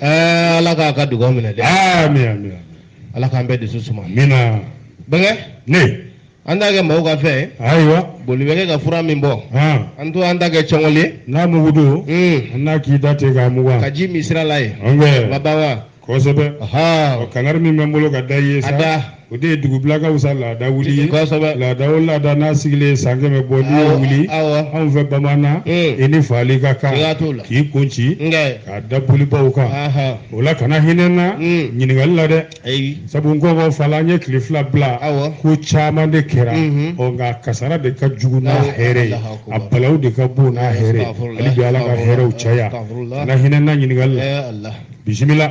ɛɛ ala k'a ka dugaw minɛ dɛ ami ami ami ala k'an bɛɛ dusu suma amiina bɛnkɛ ne an t'a kɛ mɔgɔw ka fɛn ye ayiwa boli bɛ kɛ ka fura min bɔ han an to an ta kɛ cɔngɔli ye n'a mugu don un an n'a k'i da ten k'a mugan k'a ji min sira la ye an bɛ ma ban wa kosɛbɛ ɔ ɔhɔn kangari min bɛ n bolo ka da i ye a sa da o de ye dugubilakaw sa laada wuli ye kosɛbɛ laada o laada n'a sigilen ye san kɛmɛ bɔ n'i y'o wuli awɔ anw fɛ bamanan Mm. i ni faali ka kan Siga t'o la. k'i kun ci nkɛ k'a da bolibaw kan aha o la kana hinɛ n na Mm. ɲininkali la dɛ ayi sabu n kɔngɔ fala an ye tile fila bila Awɔ. ko caman de kɛra Mhm. ɔ nka kasara de ka jugu n'a Awɔ, hɛrɛ ye Alahu Akubar. balaw de ka bon n'a hɛrɛ ye Astagfirullah, hali bi ala ka hɛrɛw caya Astagfirullah. kana hinɛ n na ɲininkali la ɛɛ ala bisimila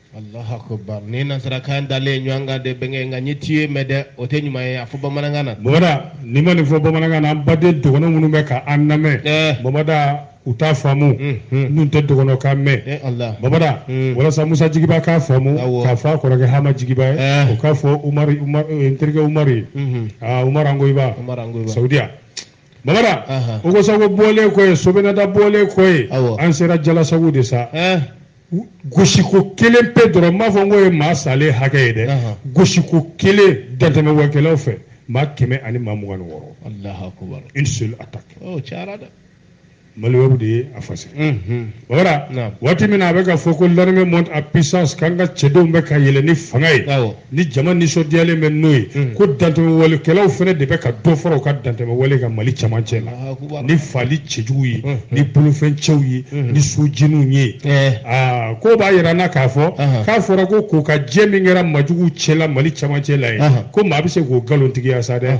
Allahu akbar ni nasarakan dalen ɲɔgɔn kan de bɛnkɛ nka n'i ye tué mɛn dɛ o tɛ ɲuman ye a fɔ bamanankan na mamada n'i ma nin fɔ bamanankan na an baden dɔgɔnɔ minnu bɛ ka an lamɛn eh. mamada u t'a faamu hmm, hmm. n'u tɛ dɔgɔnɔ kan mɛn ala, mamada hmm. walasa musa jigiba k'a faamu k'a fɔ a kɔrɔkɛ hama jigiba ye eh. o k'a fɔ umari n terikɛ umari ah, umar angoyiba saudiya Mamada ogosago bɔlen kɔ ye sobinada bɔlen kɔ ye an sera jalasago de sa gosiko kelen pe dɔrɔn m'a fɔ n k'o ye maa salen hakɛ ye dɛ gosiko kelen dantɛmɛwalekɛlaw fɛ maa kɛmɛ ani maa mugan ni wɔɔrɔ une seule attaque maliwɛrɛw de ye a fasi wara waati min na a bɛ ka fɔ ko l'armée monte en puissance k'an ka cɛdenw bɛ ka yɛlɛ ni fanga ye ni jama nisɔndiyalen bɛ n'o ye ko dantɛmɛwalekɛlaw fana de bɛ ka dɔ fara u ka dantɛmɛwale kan mali cɛmancɛ la ni faali cɛjugu ye ni bolofɛn cɛw ye ni sojeniw ye aa k'o b'a jira n na k'a fɔ k'a fɔra ko kokajɛ min kɛra majuguw cɛ la mali cɛmancɛ la ye ko maa bɛ se k'o nkalontigiya sa dɛ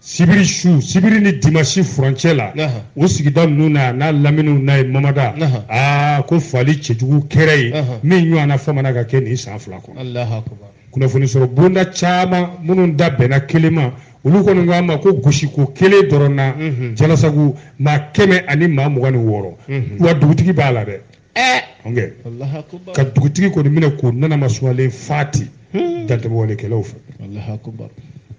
sibiri su sibiri ni dimasi furancɛ la o sigida ninnu na n'a laminiw na ye mamada aa ko faali cɛjugu kɛra ye min ɲɔgɔnna faamana ka kɛ nin san fila kɔnɔ kunnafoni sɔrɔ bonda caman minnu da bɛnna kelen ma olu kɔni k'a ma ko gosiko kelen dɔrɔn na jalasago maa kɛmɛ ani maa mugan ni wɔɔrɔ wa dugutigi b'a la dɛ ka dugutigi kɔni minɛ k'o nana masumalen fati hmm. dantɛmɛwalekɛlaw fɛ Allahu akbar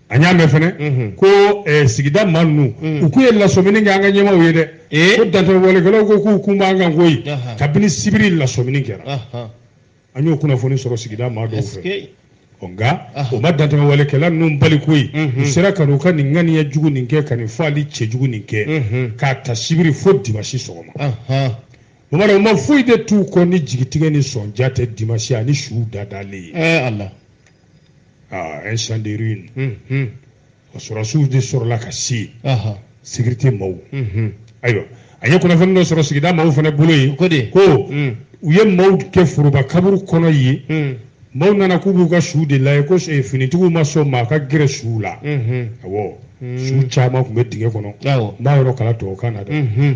an y'a mɛn fɛnɛ mhm. ko eh, sigida maa ninnu mhm. u k'u ye lasɔmini kɛ an ka ɲɛmaaw ye dɛ eh? ko dantɛmɛwalekɛlaw ko k'u kun b'an kan koyi kabini sibiri lasɔmini kɛra an y'o kunnafoni sɔrɔ sigida maa dɔw fɛ nka o ma dantɛmɛwalekɛla ninnu bali koyi u sera ka n'u ka nin ŋaniya jugu nin kɛ ka nin faali cɛjugu nin kɛ k'a ta sibiri fo dimasi sɔgɔma mamada o ma foyi de t'u kɔ ni jigitigɛ ni sɔnja tɛ dimasi ani suw dadalen ye ɛɛ ala un champ de ruine o sɔrɔsiw de sɔrɔla ka se yen Aha. sécurité maaw Mhm. ayiwa a ye kunnafoni dɔ sɔrɔ sigida maaw fana bolo yen Ko de? ko Mm. u ye maaw kɛ foroba kaburu kɔnɔ yen Mm. maaw nana k'u b'u ka suw de lajɛ ko eh, finitigiw ma sɔn maa ka gɛrɛ suw la Mhm. awɔ Mm. suw caman tun bɛ dingɛ kɔnɔ Awɔ. n b'a yɔrɔ kalan tubabukan na dɛ Mhm.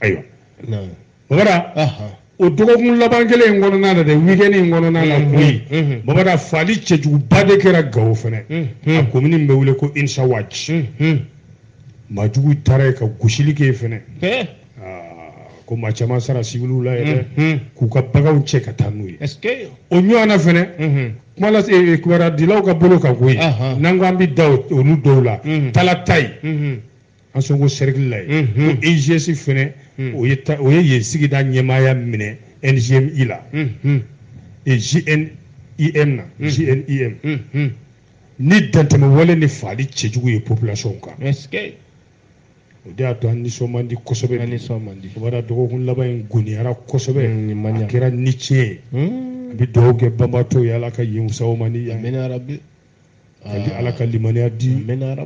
ayiwa babada o dɔgɔkun laban kelen in kɔnɔna na dɛ wikɛni in kɔnɔna na koyi babada faali cɛjuguba de kɛra gawo fɛnɛ a komini min bɛ wele ko insawaji maajugu taara yen ka gosili kɛ yen fɛnɛ ko maa caman sara sibiliw la yɛrɛ dɛ k'u ka baganw cɛ ka taa n'u ye o ɲɔgɔnna fɛnɛ kuma lase kibaruyadilaw ka bolo kan koyi n'an ko an bɛ da olu dɔw la talatayi ansongo sɛrikili la yen ko egs fɛnɛ o ye o ye yen sigida ɲɛmaaya minɛ ngmi la jnim na jnim ni dantɛmɛwale ni faali cɛjugu ye population kan o de y'a to an nisɔn man di kosɛbɛ nisɔn man di bada dɔgɔkun laban in goniyara kosɛbɛ a kɛra ni tiɲɛ ye an bɛ dugawu kɛ banbaatɔw ye ala ka yen wusa u ma ni yan ka di ala ka limaniya di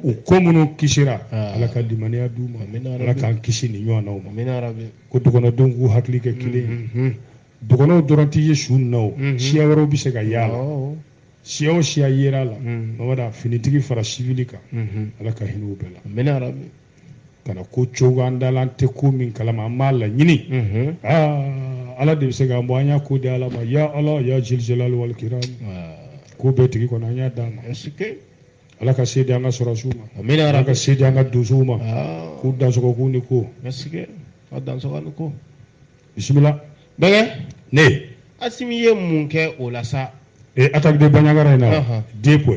u ko minnu kisira ala ka limaniya di u ma ala k'an kisi nin ɲɔgɔnnaw ma ko dɔgɔnɔdenw k'u hakili kɛ kelen ye dɔgɔnɔw dɔrɔn tɛ ye su nin na o siya wɛrɛw bɛ se ka y'a la siya o siya yera a la mabada finitigi fara sivili kan ala ka hinɛ u bɛɛ la ka na ko cogo an dala an tɛ ko min kalama an b'a laɲini ala de bɛ se k'an bɔ an y'a ko di ala ma ya ala ya zal jalali wal ikram ko bɛɛ tigi kɔnɔ an y'a d'a ma ala ka se di an ka sɔrɔsiw ma ala ka se di an ka donsow ma k'u dansɔgɔ k'u ni ko ka dansɔgɔ ni ko bisimila bɛɛ ne asimi ye mun kɛ o la sa ee attaque de bandiagara in na den ko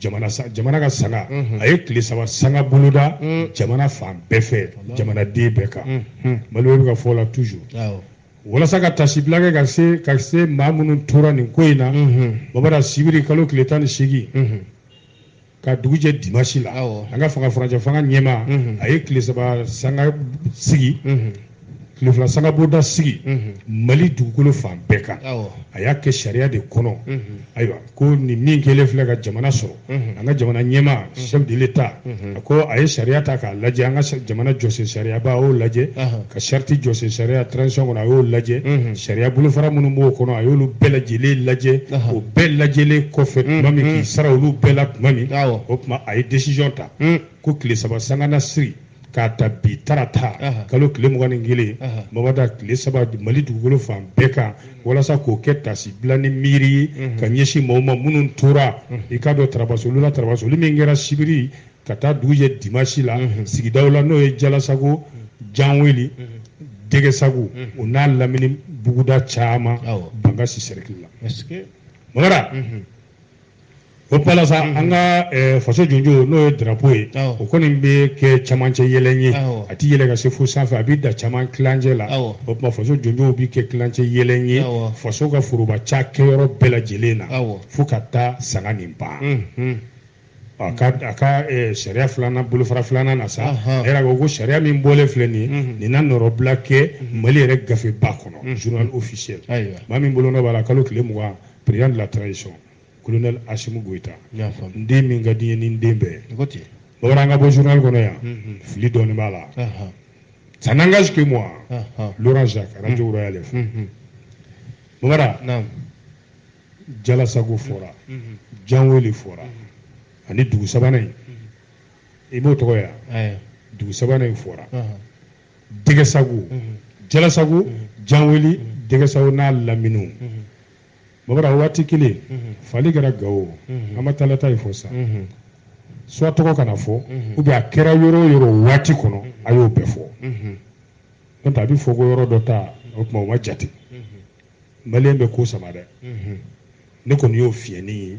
jamana ka sanga a ye tile saba sanga boloda jamana fan bɛɛ fɛ jamanaden bɛɛ kan mali bɛ ka fɔ la toujours walasa ka taasibila kɛ ka se maa minnu tora nin ko in na babada sibiri kalo tile tan ni seegin ka dugu jɛ dimasi la an ka fanga furancɛ fanga ɲɛmaa a ye tile saba sanga sigi tile fila sangabonda sigi mali dugukolo fan bɛɛ kan a y'a kɛ sariya de kɔnɔ ayiwa ko nin min kɛlen filɛ ka jamana sɔrɔ an ka jamana ɲɛmaa chef de l'état a ko a ye sariya ta k'a lajɛ an ka jamana jɔsen sariyaba a y'o lajɛ ka sariti jɔsen sariya transition kɔnɔ a y'o lajɛ sariya bolofara minnu b'o kɔnɔ a y'olu bɛɛ lajɛlen lajɛ o bɛɛ lajɛlen kɔfɛ tuma min k'i sara olu bɛɛ la tuma min o tuma a ye décision ta ko tile saba sanga na sigi k'a ta bi tarata kalo tile mugan ni kelen Bamara tile saba mali dugukolo fan bɛɛ kan walasa k'o kɛ taasibila ni miiri ye ka ɲɛsin maaw ma minnu tora i k'a dɔn tarabasolu la tarabasoli min kɛra sibiri ka taa dugu jɛ dimasi la sigidaw la n'o ye jalasago janweli dɛgɛsago o n'a lamini buguda caman bankasi sɛriki la Bamara o pala sa an ka eh, faso jɔnjɔn n'o ye drapo ye o kɔni bɛ kɛ camancɛ yɛlɛn ye a tɛ yɛlɛ ka se fo sanfɛ a bɛ dan caman tilancɛ la o tuma faso jɔnjɔn bɛ kɛ tilancɛ yɛlɛn ye faso ka foroba cakɛyɔrɔ bɛɛ lajɛlen na fo ka taa sanga nin ban a ka a ka eh, sariya filanan bolofara filanan na sa a yɛrɛ ko ko sariya min bɔlen filɛ nin ye nin na nɔrɔbila kɛ mali yɛrɛ gafeba kɔnɔ journal officiel maa min bolonɔ b'a la kalo tile mugan président de la transition colonel Assimi Goïta n den min ka di n ye ni n den bɛɛ ye Bamara an ka bɔ journal kɔnɔ yan fili dɔɔni b'a la ça n'engage que moi Laurent Jacques radio Royal FM Bamara jalasago fɔra janweli fɔra ani dugu sabanan in i b'o tɔgɔ ye dugu sabanan in fɔra dɛgɛsago jalasago janweli dɛgɛsago n'a laminiw Bamara waati kelen mhm. faali kɛra gawo mhm. an ma talataye fɔ sa mhm. soit tɔgɔ kana fɔ ou bien a kɛra yɔrɔ o yɔrɔ waati kɔnɔ a y'o bɛɛ fɔ n'o tɛ a bɛ fɔ ko yɔrɔ dɔ ta o tuma o ma jate maliyɛn bɛ ko sama dɛ ne kɔni y'o fiyɛn nin ye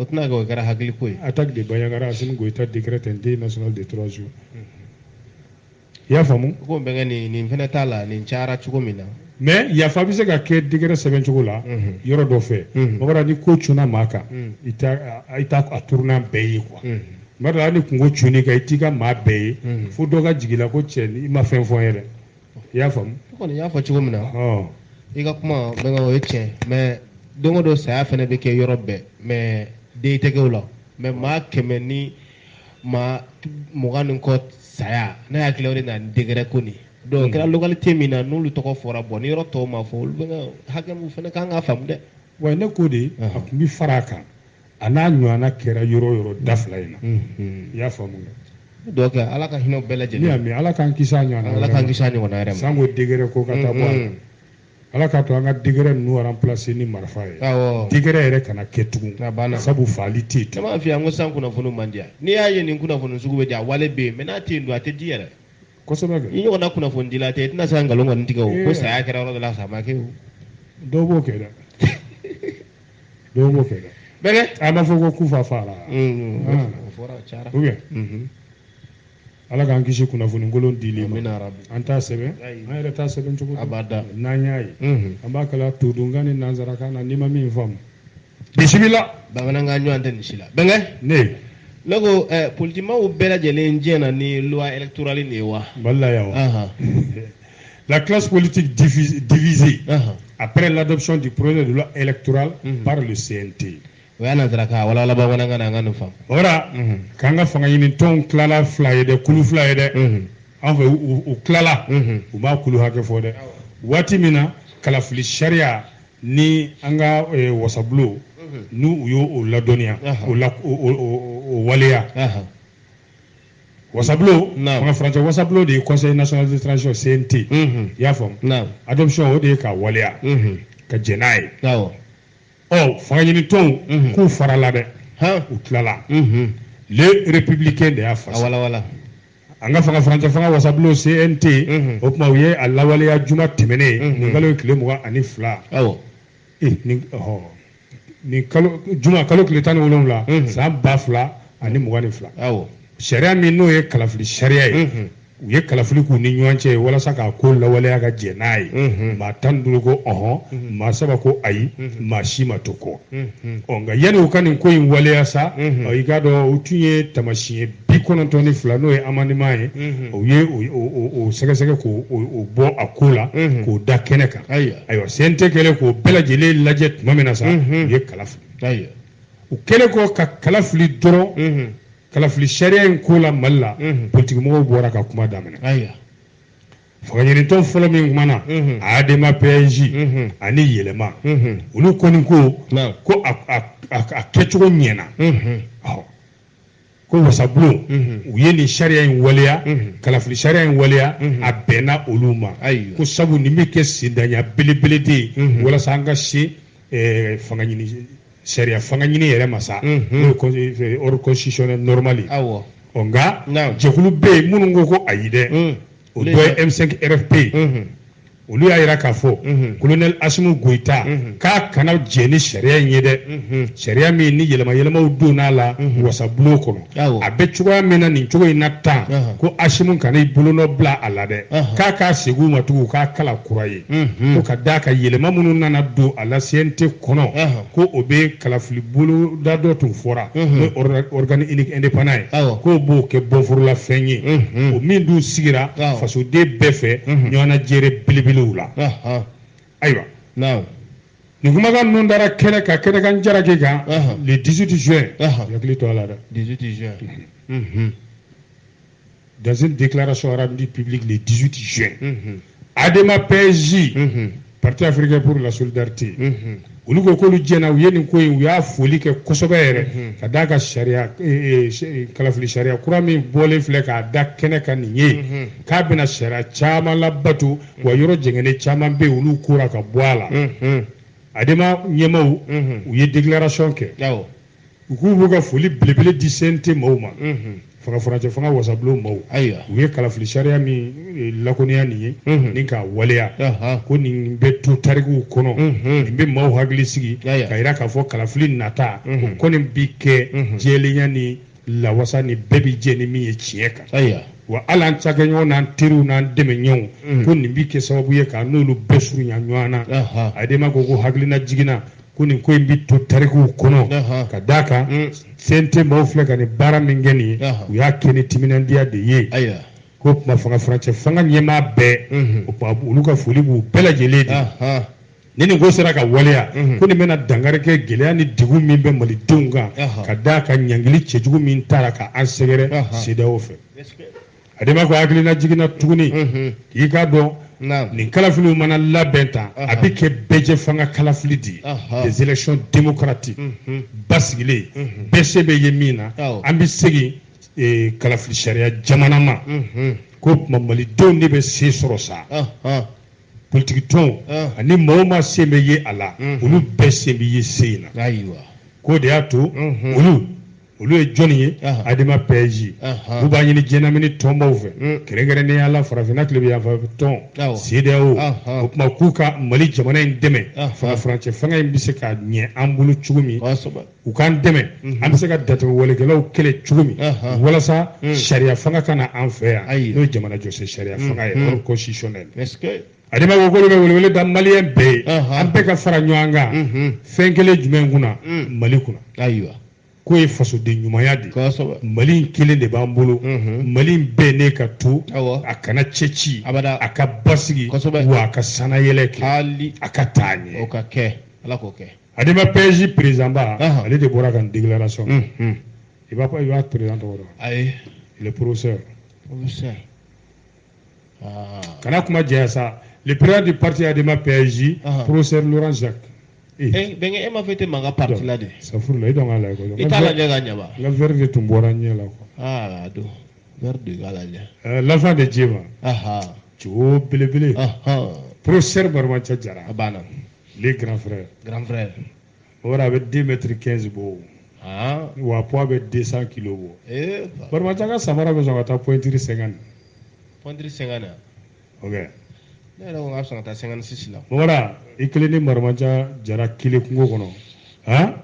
o tɛna kɛ o kɛra hakiliko ye attaque de Bandiagara Assimi Goïta décrète un deuil national de trois jours i y'a faamu ko bɛnkɛ nin nin fɛnɛ t'a la nin cayara cogo min na mais yafa bɛ se ka kɛ décret sɛbɛn cogo la yɔrɔ dɔ fɛ Bamara ni ko cunna maa kan i t'a a turunan bɛɛ ye quoi mɔgɔ hali ni kunko cunn'i kan i t'i ka maa bɛɛ ye fo dɔ ka jigi i la ko cɛ i ma fɛn fɔ n ye dɛ i y'a faamu i kɔni y'a fɔ cogo min na i ka kuma bɛnkɛ o ye tiɲɛ mais don o don saya fɛnɛ bɛ kɛ yɔrɔ bɛɛ mais deuil tɛ kɛ o la mais maa kɛmɛ ni maa mugan ni kɔ saya ne hakili o de na ni décret ko nin donc kɛra localité min na n'olu tɔgɔ fɔra bon ni yɔrɔ tɔw ma fɔ olu bɛnkɛ hakɛ min fana kan ka faamu dɛ wa ne ko de a tun bɛ fara a kan a n'a ɲɔgɔnna kɛra yɔrɔ yɔrɔ da fila in na i y'a faamu donc ala ka hinɛ bɛɛ lajɛlen na i y'a mɛ ala k'an kisi a ɲɔgɔn ala k'an kisi a ɲɔgɔn yɛrɛ ma sanko décret ko ka taa bɔ a la ala k'a to an ka décret ninnu remplacer ni marifa ye décret yɛrɛ kana kɛ tugun sabu faali tɛ yen caman fɛ yan ko san kunnafoni ma di yan n'i y'a ye nin kunnafoni sugu bɛ di a wale bɛ yen mais n'a tɛ yen don a tɛ di yɛrɛ kosɛbɛ i ɲɔgɔnna kunnafoni dila tɛ i tɛna se ka nkalon kɔni tigɛ o ko saya kɛra yɔrɔ dɔ la sa ma kɛ o dɔw b'o kɛ dɛ dɔw b'o kɛ dɛ bɛnkɛ a ma fɔ ko kufa faara ou bien ala k'an kisi kunnafoni kolon dili ma an t'a sɛbɛn an yɛrɛ t'a sɛbɛn cogo abada n'an y'a ye an b'a kalan todunkan ni nansarakan na n'i ma min faamu bisimila bamanankan ɲɔgɔn tɛ nin si la bɛnkɛ ne ne ko politikimaaw bɛɛ lajɛlen diɲɛna ni loi électorale nin ye wa mali la yan wa La classe politique divisée uh -huh. après l'adoption du projet de loi électorale uh mhm. -huh. par le CNT. o y'a nansarakan walawala bamanankan na an ka nin faamu. o la mhm. k'an ka fanga ɲini tɔnw tilala fila ye dɛ kulu fila ye dɛ mhm. an fɛ u tilala u ma kulu hakɛ fɔ dɛ waati min na kalafili sariya ni an ka eh, wasabulo n'u u y'o o ladɔnniya o la o waleya. wasabulo fanga furancɛ wasabulo de ye conseil national de transition CNT i y'a faamu adoption o de ye ka waleya ka jɛn n'a ye ɔ fanga ɲini tɔnw k'u farala dɛ u tilala Le Républicain de y'a fɔ an ka fanga furancɛ fanga wasabulo CNT o tuma u ye a lawaleya juma tɛmɛnen ye nin kalo ye tile mugan ani fila ee ni nin kalo juma kalo tile tan ni wolonwula mhm. san ba fila ani mugan ni fila sariya min n'o ye kalafili sariya ye mhm. u ye kalafili k'u ni ɲɔgɔn cɛ walasa k'a ko lawaleya ka jɛn n'a ye mhm. maa tan ni duuru ko ɔhɔn maa saba ko ayi maa si ma to kɔ ɔ nka yanni u ka nin ko in waleya sa i k'a dɔn u tun ye tamasiyɛn bi kɔnɔntɔn ni fila n'o ye amendement ye mhm. u ye o sɛgɛsɛgɛ k'o bɔ a ko la mhm. k'o da kɛnɛ kan ayiwa CNT kɛlen k'o bɛɛ lajɛlen lajɛ tuma min na sa mhm. u ye kala fili u kɛlen kɔ ka kala fili dɔrɔn kalafili sariya in ko la mali la politikimɔgɔw bɔra ka kuma daminɛ fangaɲinitɔn fɔlɔ min kumana ADEMA PASJ ani yɛlɛma olu kɔni ko ko a kɛcogo ɲɛna ko wasabulon u ye nin sariya in waleya kalafili sariya in waleya a bɛnna olu ma ko sabu nin bɛ kɛ sendanya belebele de ye walasa an ka se eh, fanga ɲini sariya fanga ɲini yɛrɛ ma sa n'o ye ordre constitutionnel normal ye ɔ nka jɛkulu bɛ yen minnu ko ko ayi dɛ o dɔ ye M5 RFP olu y'a jira k'a fɔ kolonɛli Asimu Goyita k'a kana jɛn ni sariya in ye dɛ sariya min ni yɛlɛma yɛlɛmaw donn'a la wasabulon kɔnɔ a bɛ cogoya min na nin cogo in na tan ko Asimu kana i bolonɔ bila a la dɛ k'a k'a segin u ma tugun u k'a kalan kura ye. ko ka d'a kan yɛlɛma minnu nana don a la CNT kɔnɔ ko o bɛ kalafili boloda dɔ tun fɔra n'o ye organe unique indépendant ye k'o b'o kɛ bɔnforolafɛn ye o min dun sigira fasoden bɛɛ fɛ ɲɔgɔnnajɛrɛ belebelew la ayiwa nin kumakan ninnu dara kɛnɛ kan kɛnɛkan jaraki kan le 18 juin hakili to a la dɛ 18 juin dans une déclaration rendue publique le 18 juin, mm -hmm. Adema PASJ, mm -hmm. Parti africain pour la solidarité, mm -hmm. olu ko k'olu jɛnna u ye nin ko in u y'a foli kɛ kosɛbɛ yɛrɛ mhm. ka d'a kan sariya e, e, e, kalafili sariya kura min bɔlen filɛ k'a da kɛnɛ kan nin ye mhm. k'a bɛna sariya caman labato wa mhm. yɔrɔ jɛngɛnnen caman bɛ yen olu kora ka bɔ a la adema ɲɛmaw u ye déclaration kɛ u k'u b'u ka foli belebele di CNT maaw ma fanga furancɛ fanga wasabulon maaw ayiwa u ye kalafili sariya min eh, lakoniya nin ye ni k'a waleya ko nin bɛ to tarikuw kɔnɔ nin bɛ maaw hakili sigi ka yira k'a fɔ kalafili nata o kɔni bi kɛ jɛlenya ni lawasa ni bɛɛ bi jɛ ni min ye tiɲɛ kan ayiwa wa hali an cakɛɲɔgɔn n'an teriw n'an dɛmɛɲɔgɔnw mm. ko nin bi kɛ sababu ye k'an n'olu bɛɛ surunya ɲɔgɔn na adema ko hakilinajigin na ko nin ko in bɛ to tarikuw kɔnɔ ka d'a kan CNT mm. maaw filɛ ka nin baara min kɛ nin ye u y'a kɛ ni timinandiya de ye ko tuma fanga furancɛ fanga ɲɛmaa bɛɛ mhm. o tuma olu ka foli b'u bɛɛ lajɛlen de ni nin ko sera ka waleya mhm. ko nin bɛna dankari kɛ gɛlɛya ni degun min bɛ malidenw kan ka d'a kan ɲangili cɛjugu min tara ka an sɛgɛrɛ CEDEAO fɛ adema ko hakilinajigin na tuguni k'i k'a dɔn nin kalafiliw mana labɛn tan a bɛ kɛ bɛɛjɛ fanga kalafili de ye des élections démocratiques basigilen bɛɛ sen bɛ ye min na an bɛ segin eh, kalafili sariya jamana ma ko tuma malidenw de bɛ se sɔrɔ sa politiki tɔnw ani maa o maa sen bɛ ye a la olu bɛɛ sen bɛ ye se in na k'o de y'a to olu olu ye jɔnni ye adema PASJ u b'a ɲini diɲɛlamini tɔnbaw fɛ mm. kɛrɛnkɛrɛnnenya la farafinna tilebin yanfɛ tɔn CEDEAO o tuma k'u ka mali jamana in dɛmɛ furancɛ fanga in bɛ se ka ɲɛ an bolo cogo min u k'an dɛmɛ mm-hmm. an bɛ se ka dantɛmɛwalekɛlaw kɛlɛ cogo min walasa mm. sariya fanga ka na an fɛ yan n'o ye jamana jɔsen sariya mm. fanga ye ordre constitutionnel adema ko k'olu bɛ welewele da maliyɛn bɛɛ ye an bɛɛ ka fara ɲɔgɔn kan mm-hmm. fɛn kelen jumɛn kunna mali kunna ayiwa k'o ye fasoden ɲumanya de ye mali in kelen de b'an bolo mhm. mali in bɛnnen ka to a kana cɛci a ka basigi wa a ka sannayɛlɛn kɛ a ka taa ɲɛ o ka kɛ ala k'o kɛ adema PASJ perezidanba ale de bɔra ka nin déclaration mhm. i b'a fɔ i b'a perezidan tɔgɔ dɔn ayi le professeur professeur kana kuma jɛya sa le président du parti adema pasj professeur laurent jacques bɛnkɛ e ma fɔ e tɛ mankan parti la dɛ safurula i dɔn k'a lajɛ kɔni i t'a lajɛ ka ɲɛ ba n ka verre de tun bɔra ɲɛ la quoi aa a don verre de k'a lajɛ ɛɛ l'enfant de diéma jo belebele professeur marimanca jara a banna le grand frère grand frère o yɛrɛ a bɛ deux mètres quinze bɔ wa poids bɛ deux cent kilos bɔ marimanca ka samara bɛ sɔn ka taa pointure cinquante pointure cinquante na ok ne yɛrɛ ko k'a bɛ sɔn ka taa cinquante-six la mɔgɔra i kelen ni marimanca jara kelen kungo kɔnɔ han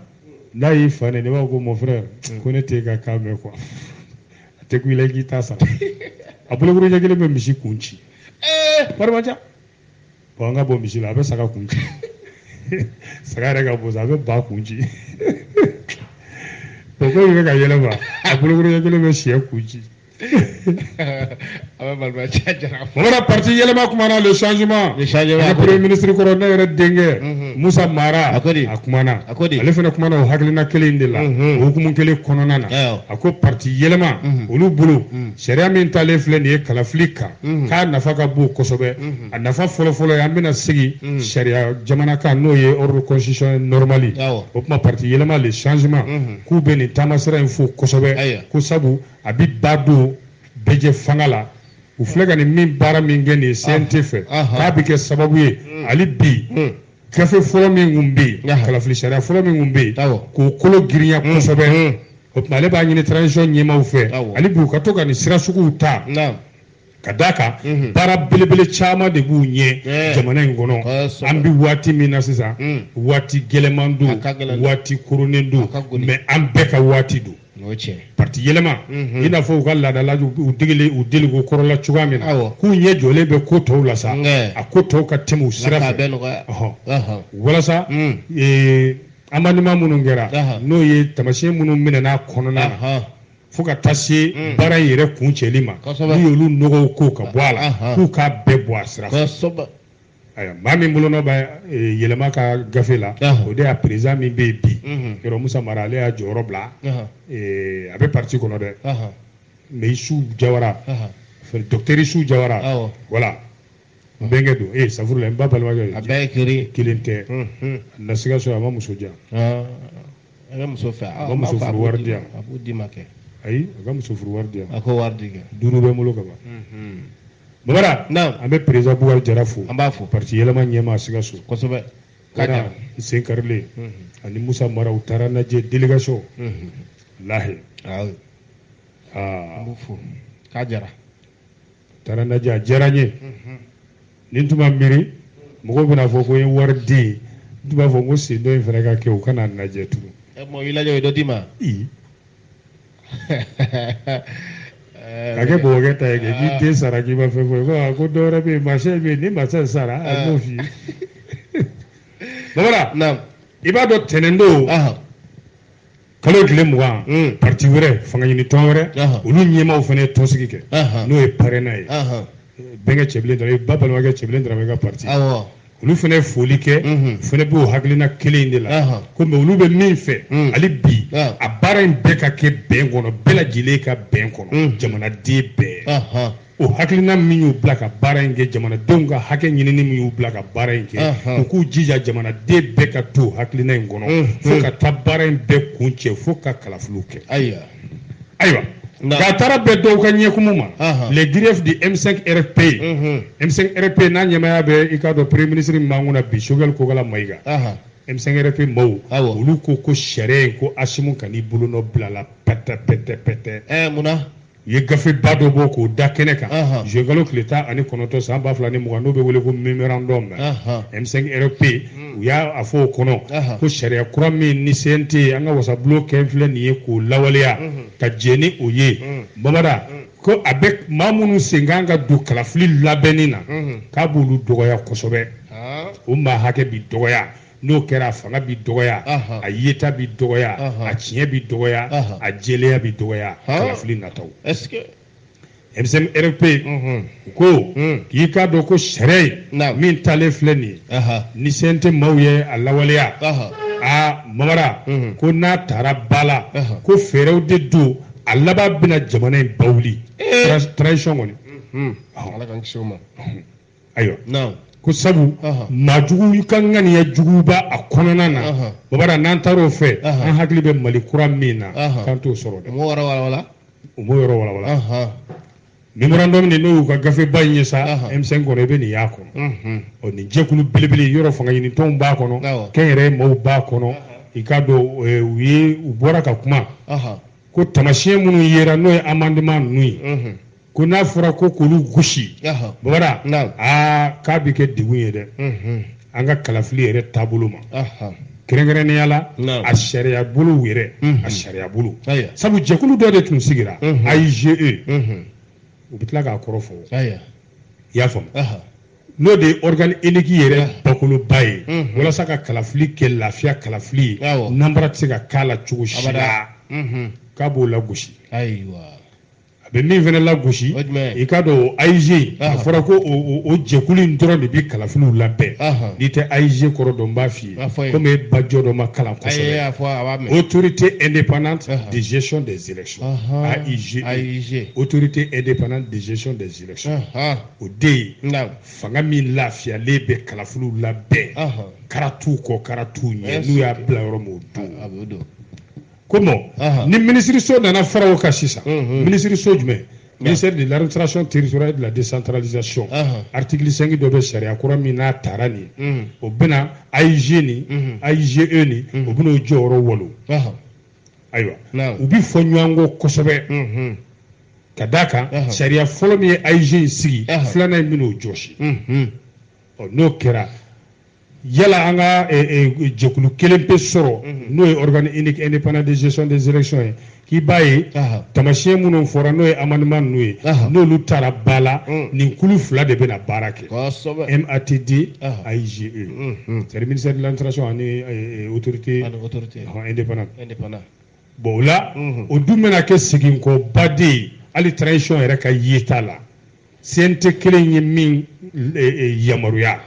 n'a y'i fa ne ne b'a fɔ ko mon frère ko ne t'e ka kan mɛn quoi a tɛ ku i la i k'i ta sara a bolokuru ɲɛ kelen bɛ misi kun ci ee marimanca bɔn an ka bɔ misi la a bɛ saga kun ci saga yɛrɛ ka bon sa a bɛ ba kun ci bɔn ko bɛ ka yɛlɛma a bolokuru ɲɛ kelen bɛ sɛ kun ci Voilà, parti Yelema kumana, le changement. Le changement. Le premier ministre kɔrɔ ne yɛrɛ denkɛ mhm. Musa Mara a kumana ale fana kumana o hakilina kelen de la o hukumu kelen kɔnɔna na a ko parti Yelema mhm. olu bolo mhm. Sariya min talen filɛ nin ye kalafili kan mhm. k'a nafa ka bon kosɛbɛ mhm. a nafa fɔlɔfɔlɔ ye an bɛna sigi mhm. sariya jamana kan n'o ye ordre constitutionnel normal o kuma parti yɛlɛma le changement k'u bɛ nin taamasira in fo kosɛbɛ ko sabu a bɛ ba don bɛɛjɛfanga la u filɛ ka nin min baara min kɛ nin ye CNT fɛ k'a bɛ kɛ sababu ye hali bi gafe fɔlɔ min tun bɛ yen kalafili sariya fɔlɔ min tun bɛ yen k'o kolo girinya mm, kosɛbɛ mm. o tuma ale b'a ɲini transition ɲɛmaaw fɛ hali bi u ka to ka nin sira suguw ta ka d'a kan mm-hmm. baara belebele caman de b'u ɲɛ jamana in kɔnɔ an bɛ waati min na sisan mm. waati gɛlɛman don waati koronnen don mais an bɛɛ ka waati don parti yɛlɛma mhm. i n'a fɔ u ka laadala u degeli u deliko kɔrɔ la cogoya min na k'u ɲɛ jɔlen bɛ ko tɔw la sa a ko tɔw ka tɛmɛ u sira fɛ walasa mm. e, amendement minnu kɛra n'o ye taamasiyɛn minnu minɛna kɔnɔna na fo ka taa se mm. baara in yɛrɛ kuncɛli ma n'u y'olu nɔgɔw ko ka bɔ a la k'u k'a bɛɛ bɔ a sira fɛ ayiwa maa min bolonɔ bɛ eh, yɛlɛma ka gafe la Ɔhɔn. o de y'a président min bɛ yen bi Mhm. yɔrɔ musa mara ale y'a jɔyɔrɔ bila Ɔhɔn. eh, a bɛ parti kɔnɔ dɛ Ɔhɔn. mais isu jawara Ɔhɔn. fɛ- docteur isu jawara Awɔ. voilà n bɛnkɛ don ee safurula n ba balimakɛ a bɛɛ ye kiri kelen tɛ Mhm. na siga so a ma muso di yan Ɔn. a bɛ muso fɛ A ka muso furu wari di yan. a b'o d'i ma kɛ ayi a ka muso furu wari di yan a ko wari di kɛ duuru bɛ n bolo ka ban Mhm. Babara naam an bɛ président Bubakari Jara fo an b'a fo parti yɛlɛma ɲɛmaa Sikaso kosɛbɛ k'a diyara Wara n sen karilen ani Musa Mara u taara n lajɛ délégation walahi aa oui an b'u fo k'a diyara u taara n lajɛ a diyara n ye ni n tun ma miiri mɔgɔw bɛn'a fɔ ko n ye wari de ye n tun b'a fɔ ko sen dɔ in fana ka kɛ u ka na n lajɛ tugun ɛ mɔgɔ y'i lajɛ u ye dɔ d'i ma i ka kɛ bɔbɔkɛ ta ye kɛ k'i den sara k'i ma fɛn fɔ ko ko dɔ wɛrɛ bɛ yen Marcel bɛ yen ni Marcel sara a b'o f'i ye babara i b'a dɔn tɛnɛn don kalo tile mugan hmm. parti wɛrɛ fanga ɲini tɔn wɛrɛ olu ɲɛmaaw fana ye tɔnsigi kɛ n'o ye PARENA ye bɛnkɛ Cɛbilen Daramɛ i ba balimakɛ Cɛbilen Daramɛ ka parti olu fana ye foli kɛ u fana b'o hakilina kelen in de la ko mais olu bɛ min fɛ hali bi a baara in bɛɛ ka kɛ bɛn kɔnɔ bɛɛ lajɛlen ka bɛn kɔnɔ jamanaden bɛɛ o hakilina min y'u bila ka baara in kɛ jamanadenw ka hakɛ ɲinini min y'u bila ka baara in kɛ u k'u jija jamanaden bɛɛ ka to hakilina in kɔnɔ fo ka taa baara in bɛɛ kuncɛ fo ka kalafiliw kɛ ayiwa nka a taara bɛn dɔw ka ɲɛkumu ma les griefs du M5 RFP M5 RFP n'a ɲɛmaya bɛ i k'a dɔn premier ministre min b'an kunna bi Choguel Kokala Mayiga M5 RFP maaw olu ko ko sariya in ko Asimu kan'i bolonɔ bil'a la pɛtɛ pɛtɛ pɛtɛ munna u ye gafeba dɔ bɔ k'o da kɛnɛ kan juin kalo tile tan ani kɔnɔntɔn san ba fila ni mugan n'o bɛ wele ko memorandum M5 RFP u y'a a fɔ o kɔnɔ ko sariya kura min ni CNT an ka wasabulon kɛ filɛ nin ye k'o lawaleya ka jɛn ni o ye Babara ko a bɛ maa minnu sen ka kan ka don kalafili labɛnni na k'a b'olu dɔgɔya kosɛbɛ o maa hakɛ bɛ dɔgɔya n'o kɛra a fanga bɛ dɔgɔya a yeta bɛ dɔgɔya a tiɲɛ bɛ dɔgɔya a jɛlenya bɛ dɔgɔya kalafili nataw M5 RFP u ko k'i k'a dɔn ko sariya in min talen filɛ nin ye ni CNT maaw ye a lawaleya aa mamara ko n'a taara ba la ko fɛɛrɛw de don a laban bɛna jamana in ba wuli transition kɔni Ala k'an kisi o ma ayiwa naamu ko sabu maajugu ka ŋaniya jugu b'a kɔnɔna na babara n'an taar'o fɛ an hakili bɛ mali kura min na k'an t'o sɔrɔ dɛ u b'o yɔrɔ walawala u b'o yɔrɔ walawala memorandum de n'o y'u ka gafeba in ye sa M5 kɔnɔ i bɛ nin y'a kɔnɔ ɔ nin jɛkulu belebele yɔrɔ fanga ɲinitɔnw b'a kɔnɔ kɛnyɛrɛye maaw b'a kɔnɔ i k'a dɔn u ye u bɔra ka kuma ko tamasiyɛn minnu yera n'o ye amendement ninnu ye ko n'a fɔra ko k'olu gosi babara aa k'a bɛ kɛ degun ye dɛ an ka kalafili yɛrɛ taabolo ma kɛrɛnkɛrɛnnenya la a sariya bolo yɛrɛ a sariya bolo sabu jɛkulu dɔ de tun sigira AIGE u bɛ tila k'a kɔrɔ fɔ i y'a faamu n'o de ye organe unique yɛrɛ bakoloba ye walasa ka kalafili kɛ lafiya kalafili ye nanbara tɛ se ka k'a la cogo si la k'a b'o lagosi a bɛ min fana lagosi i k'a dɔn o AIGE a fɔra ko o jɛkulu in dɔrɔn de bɛ kalafiliw labɛn n'i tɛ AIGE kɔrɔ dɔn n b'a f'i ye komi e ba jɔ dɔ ma kalan kosɛbɛ autorité indépendante de gestion des élections AIGE autorité indépendante de gestion des élections o de ye fanga min lafiyalen bɛ kalafiliw labɛn karatuw kɔ karatuw ɲɛ n'u y'a bila yɔrɔ min o don ko bon ni minisiriso nana fara o kan sisan minisiriso jumɛn ministère de l'administration territoriale de la décentralisation article 5 dɔ bɛ sariya kura min n'a tara nin ye o bɛna AIG ni AIGE ni o bɛna o jɔyɔrɔ walo ayiwa u bɛ fɔ ɲɔgɔn kɔ kosɛbɛ ka d'a kan sariya fɔlɔ min ye AIG in sigi filanan in bɛna o jɔsi n'o kɛra yala an ka eh, eh, jɛkulu kelen pe sɔrɔ mhm. n'o ye organe unique indépendant de gestion des élections ye k'i b'a ye tamasiyɛn minnu fɔra n'o ye amendement ninnu ye n'olu tara ba la mm. nin kulu fila de bɛna baara kɛ MATD AIGE mhm. c'est à dire ministère de l'administration ani eh, autorité indépendante bon o la mhm. o dun bɛna kɛ seginkɔba de ye hali transition yɛrɛ ka yeta la CNT kelen ye min e, e, yamaruya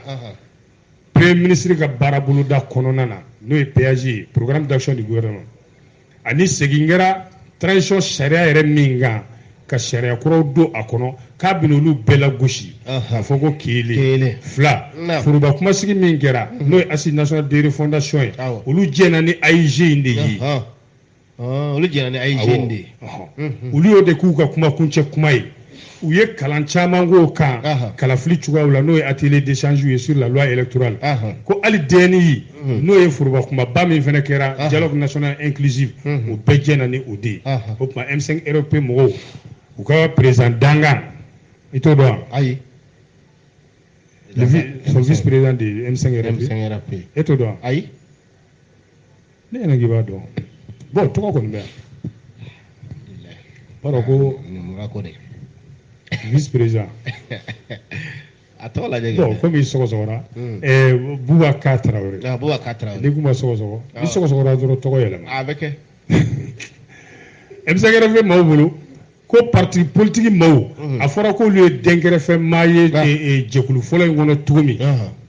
premier ministre ka baaraboloda kɔnɔna na n'o ye PAG ye programme d'action du gouvernement ani segin kɛra transition sariya yɛrɛ min kan ka sariya kuraw don a kɔnɔ k'a bɛna olu bɛɛ lagosi k'a fɔ ko kelen fila foroba kumasigi min kɛra n'o ye Assises nationales de refondation ye olu jɛna ni AIG in de ye olu jɛna ni AIG in de ye olu y'o de k'u ka kuma kuncɛ kuma ye u ye kalan caman k'o kan kalafili cogoyaw la n'o ye atelier d'échange ye sur la loi électorale ko hali DNI Mhm. n'o ye foroba kumaba min fana kɛra ah. dialogue national inclusive mhm. o bɛɛ jɛna ni o de ye ah. o tuma M5 RFP mɔgɔw u ka président dankan i t'o dɔn wa ayi son vice président de M5 RFP e t'o dɔn wa ayi ne yɛrɛ k'i b'a dɔn bon tɔgɔ kɔni bɛ yan b'a dɔn ko vice président a tɔgɔ lajɛ bon komi i sɔgɔsɔgɔra hmm. eh, Boubacar Traoré ah, Boubacar Traoré n'i kuma sɔgɔsɔgɔ n'i ah. sɔgɔsɔgɔra dɔrɔn tɔgɔ yɛlɛma a bɛ kɛ M5 RFP maaw bolo ko parti politique maaw hmm. a fɔra k'olu ye dɛnkɛrɛfɛ maa ye ah. eh, eh, jɛkulu fɔlɔ in kɔnɔ cogo min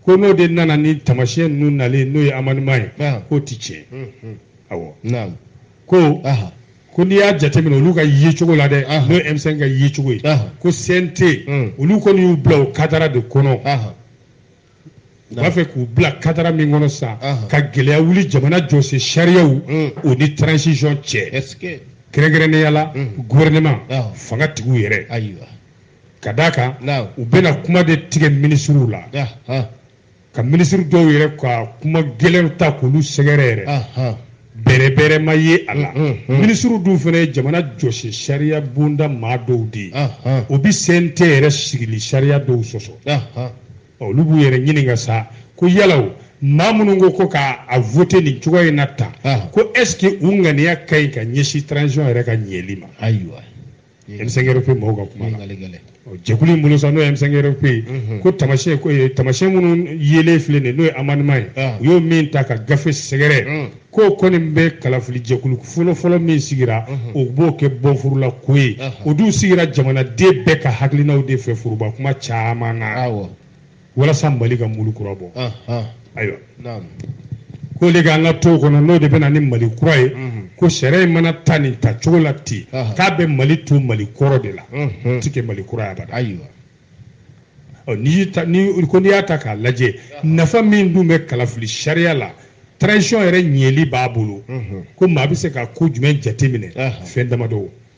ko n'o de nana ni tamasiyɛn ninnu nalen n'o ye amendement ye k'o ti tiɲɛ hmm, awɔ ko ko n'i y'a jateminɛ olu ka yecogo la dɛ n'o ye M5 ka yecogo ye ko CNT hmm. olu kɔni y'u bila o kadara de kɔnɔ u b'a fɛ k'u bila kadara min kɔnɔ sisan ka gɛlɛya wuli jamana jɔsen sariyaw hmm. o ni transition cɛ kɛrɛnkɛrɛnnenya la hmm. gouvernement fangatigiw yɛrɛ ka d'a kan u bɛna kuma de tigɛ minisiriw la ka minisiri dɔw yɛrɛ ka kuma gɛlɛnw ta k'olu sɛgɛrɛ yɛrɛ bɛrɛbɛrɛ ma ye a la minisiriw dun fana ye jamana jɔsen sariya bonda maa dɔw de ye o bi CNT yɛrɛ sigili sariya dɔw sɔsɔ olu b'u yɛrɛ ɲininka sa ko yala o maa minnu ko ko k'a voté nin cogoya in na tan ko est ce que u ŋaniya ka ɲi ka ɲɛsin transition yɛrɛ ka ɲɛli ma ayiwa M5 RFP mɔgɔw ka kuma la jɛkulu in bolo sa n'o ye M5 RFP ye mhm. ko tamasiyɛn ko eh, tamasiyɛn minnu yelen filɛ nin ye n'o ye amendement ye ah. u y'o min ta ka gafe sɛgɛrɛ mm. k'o kɔni bɛ kalafili jɛkulu fɔlɔfɔlɔ min sigira mhm. o b'o kɛ bɔnfurula ko ye o dun sigira jamanaden bɛɛ ka hakilinaw de fɛ foroba kuma caman na walasa mali ka mulu kura bɔ ayiwa k'o de k'an ka to kɔnɔ n'o de bɛ na ni mali kura ye mhm. ko sariya in mana ta nin ta cogo la ten k'a bɛ mali to mali kɔrɔ de la mhm. ti kɛ mali kura ye abada ayiwa n'i ko n'i y'a ta k'a lajɛ nafa min dun bɛ kalafili sariya la transition yɛrɛ ɲɛli b'a bolo mhm. ko maa bɛ se ka ko jumɛn jateminɛ fɛn damadɔ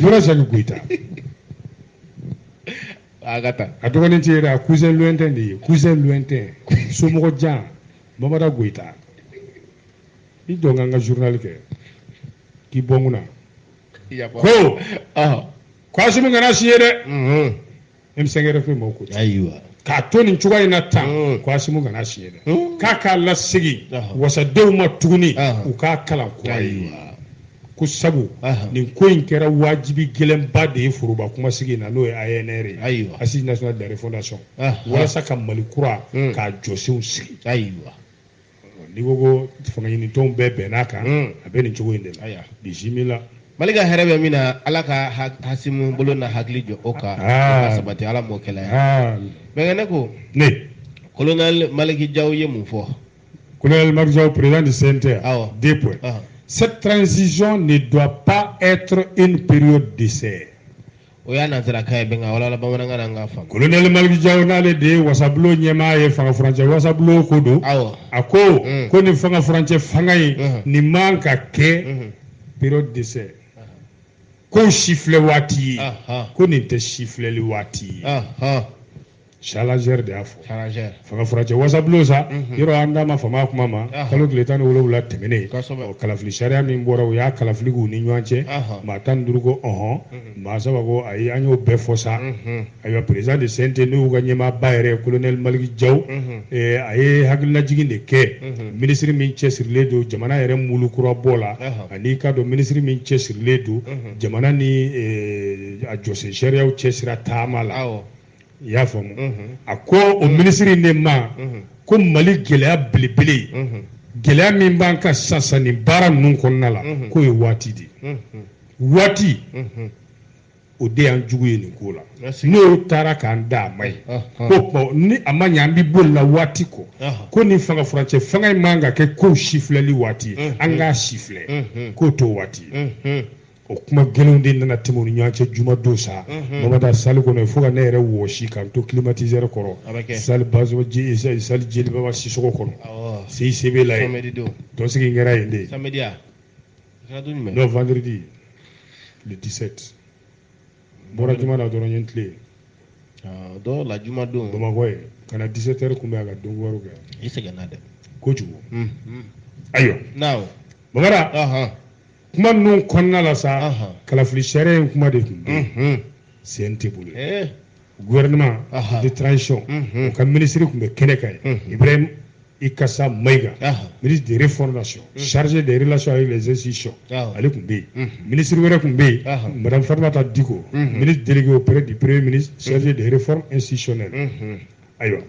Mura sanu goyita a ka taa a dɔgɔnin tɛ yɛrɛ a cousin lointain de ye cousin lointain somɔgɔ jan bamada goyita i jɔ n ka n ka journal kɛ k'i bɔ n kunna ko ko asimi kana siɲɛ dɛ M5 RFP maaw ko ayiwa k'a to nin cogoya in na tan hmm. ko asimi kana siɲɛ dɛ hmm. k'a k'a lasegin wasadenw ma tuguni u k'a kalan kura ye ko sabu nin ko in kɛra wajibi gɛlɛnba de ye foroba kumasigi in na n'o ye ANR ye ayiwa Assises nationales de la refondation walasa ka Mali kura hmm. k'a jɔsenw sigi ayiwa n'i ko ko fanga ɲinitɔnw bɛɛ bɛnn'a kan hmm. a bɛ nin cogo in de la ayiwa bisimila mali ka hɛrɛ bɛ min na ala ka asimi bolo n'a hakili jɔ o kan ah. sabati ala m'o kɛla ah. bɛnkɛ ne ko ne kolonɛli maliki jaw ye mun fɔ kolonɛli maliki jaw président du CNT awɔ deux points ah. cette transition ne doit pas être une période d'essai o y'a nanzarakan ye bɛn k'a walawala bamanankan na an k'a faamu kolonɛli maliki jaw n'ale de ye wasabulon ɲɛmaa ye fanga furancɛ wasabulon ko don awɔ a ko Mm. ko nin fanga furancɛ fanga in Mhm. nin man ka kɛ Mhm. période d'essai ko sifilɛ waati ye Aha. ko nin tɛ sifilɛli waati ye Aha. Challenger de y'a fɔ fanga furancɛ wasabulon sa mhm. yɔrɔ an da ma fama kuma ma kalo tile tan ni wolowula tɛmɛnen kalafili sariya min bɔra u y'a kalafili k'u ni ɲɔgɔn cɛ maa tan ni duuru ko ɔhɔn mhm. maa saba ko ayi an y'o bɛɛ fɔ sa mhm. ayiwa président de CNT n'u ka ɲɛmaaba yɛrɛ kolonɛli maliki jaw eh, a ye hakililajigin de kɛ minisiri min cɛsirilen don jamana yɛrɛ mulu kura bɔ la ani ka dɔn minisiri min cɛsirilen don jamana ni eh, a jɔsen sariyaw cɛsira taama la i y'a faamu a ko o minisiri in de ma ko mali gɛlɛya belebele gɛlɛya min b'an kan sisan nin baara ninnu kɔnɔna la k'o ye waati de ye waati o de y'an jugu ye nin ko la n'o taara k'an dan a m'a ye ko ni a ma ɲɛ an bɛ boli la waati kɔ ko nin fanga furancɛ fanga in man ka kɛ ko sifilɛli waati ye an k'a sifilɛ k'o t'o waati ye o kuma gɛlɛnw de nana tɛmɛ u ni ɲɔgɔn cɛ juma don sa mamada salle kɔnɔ fo ka ne yɛrɛ wɔsi ka n to climatiseur kɔrɔ salle bazo ji salle jelibaba sisɔkɔ kɔnɔ CICB la tɔnsigi kɛra yen de n'o vendredi le 17 bɔra juma na dɔrɔn n ye n tilen dɔw la juma don bamakɔ ye ka na 17 heures kunbɛn a ka don wɛrɛw kɛ i sɛgɛnna dɛ kojugu ayiwa mamada kuma ninnu kɔnɔna la sa kalafili sariya in kuma de tun bɛ mhm. CNT bolo eh. gouvernement de transition mhm. o ka minisiri tun bɛ kɛnɛ kan mhm. ibrahim ikasa mayiga ministre de réformation chargé des relations avec les institutions ale tun bɛ yen minisiri wɛrɛ tun bɛ yen madame fatumata diko ministre délégué auprès du premier ministre chargé des réformes institutionnelles ayiwa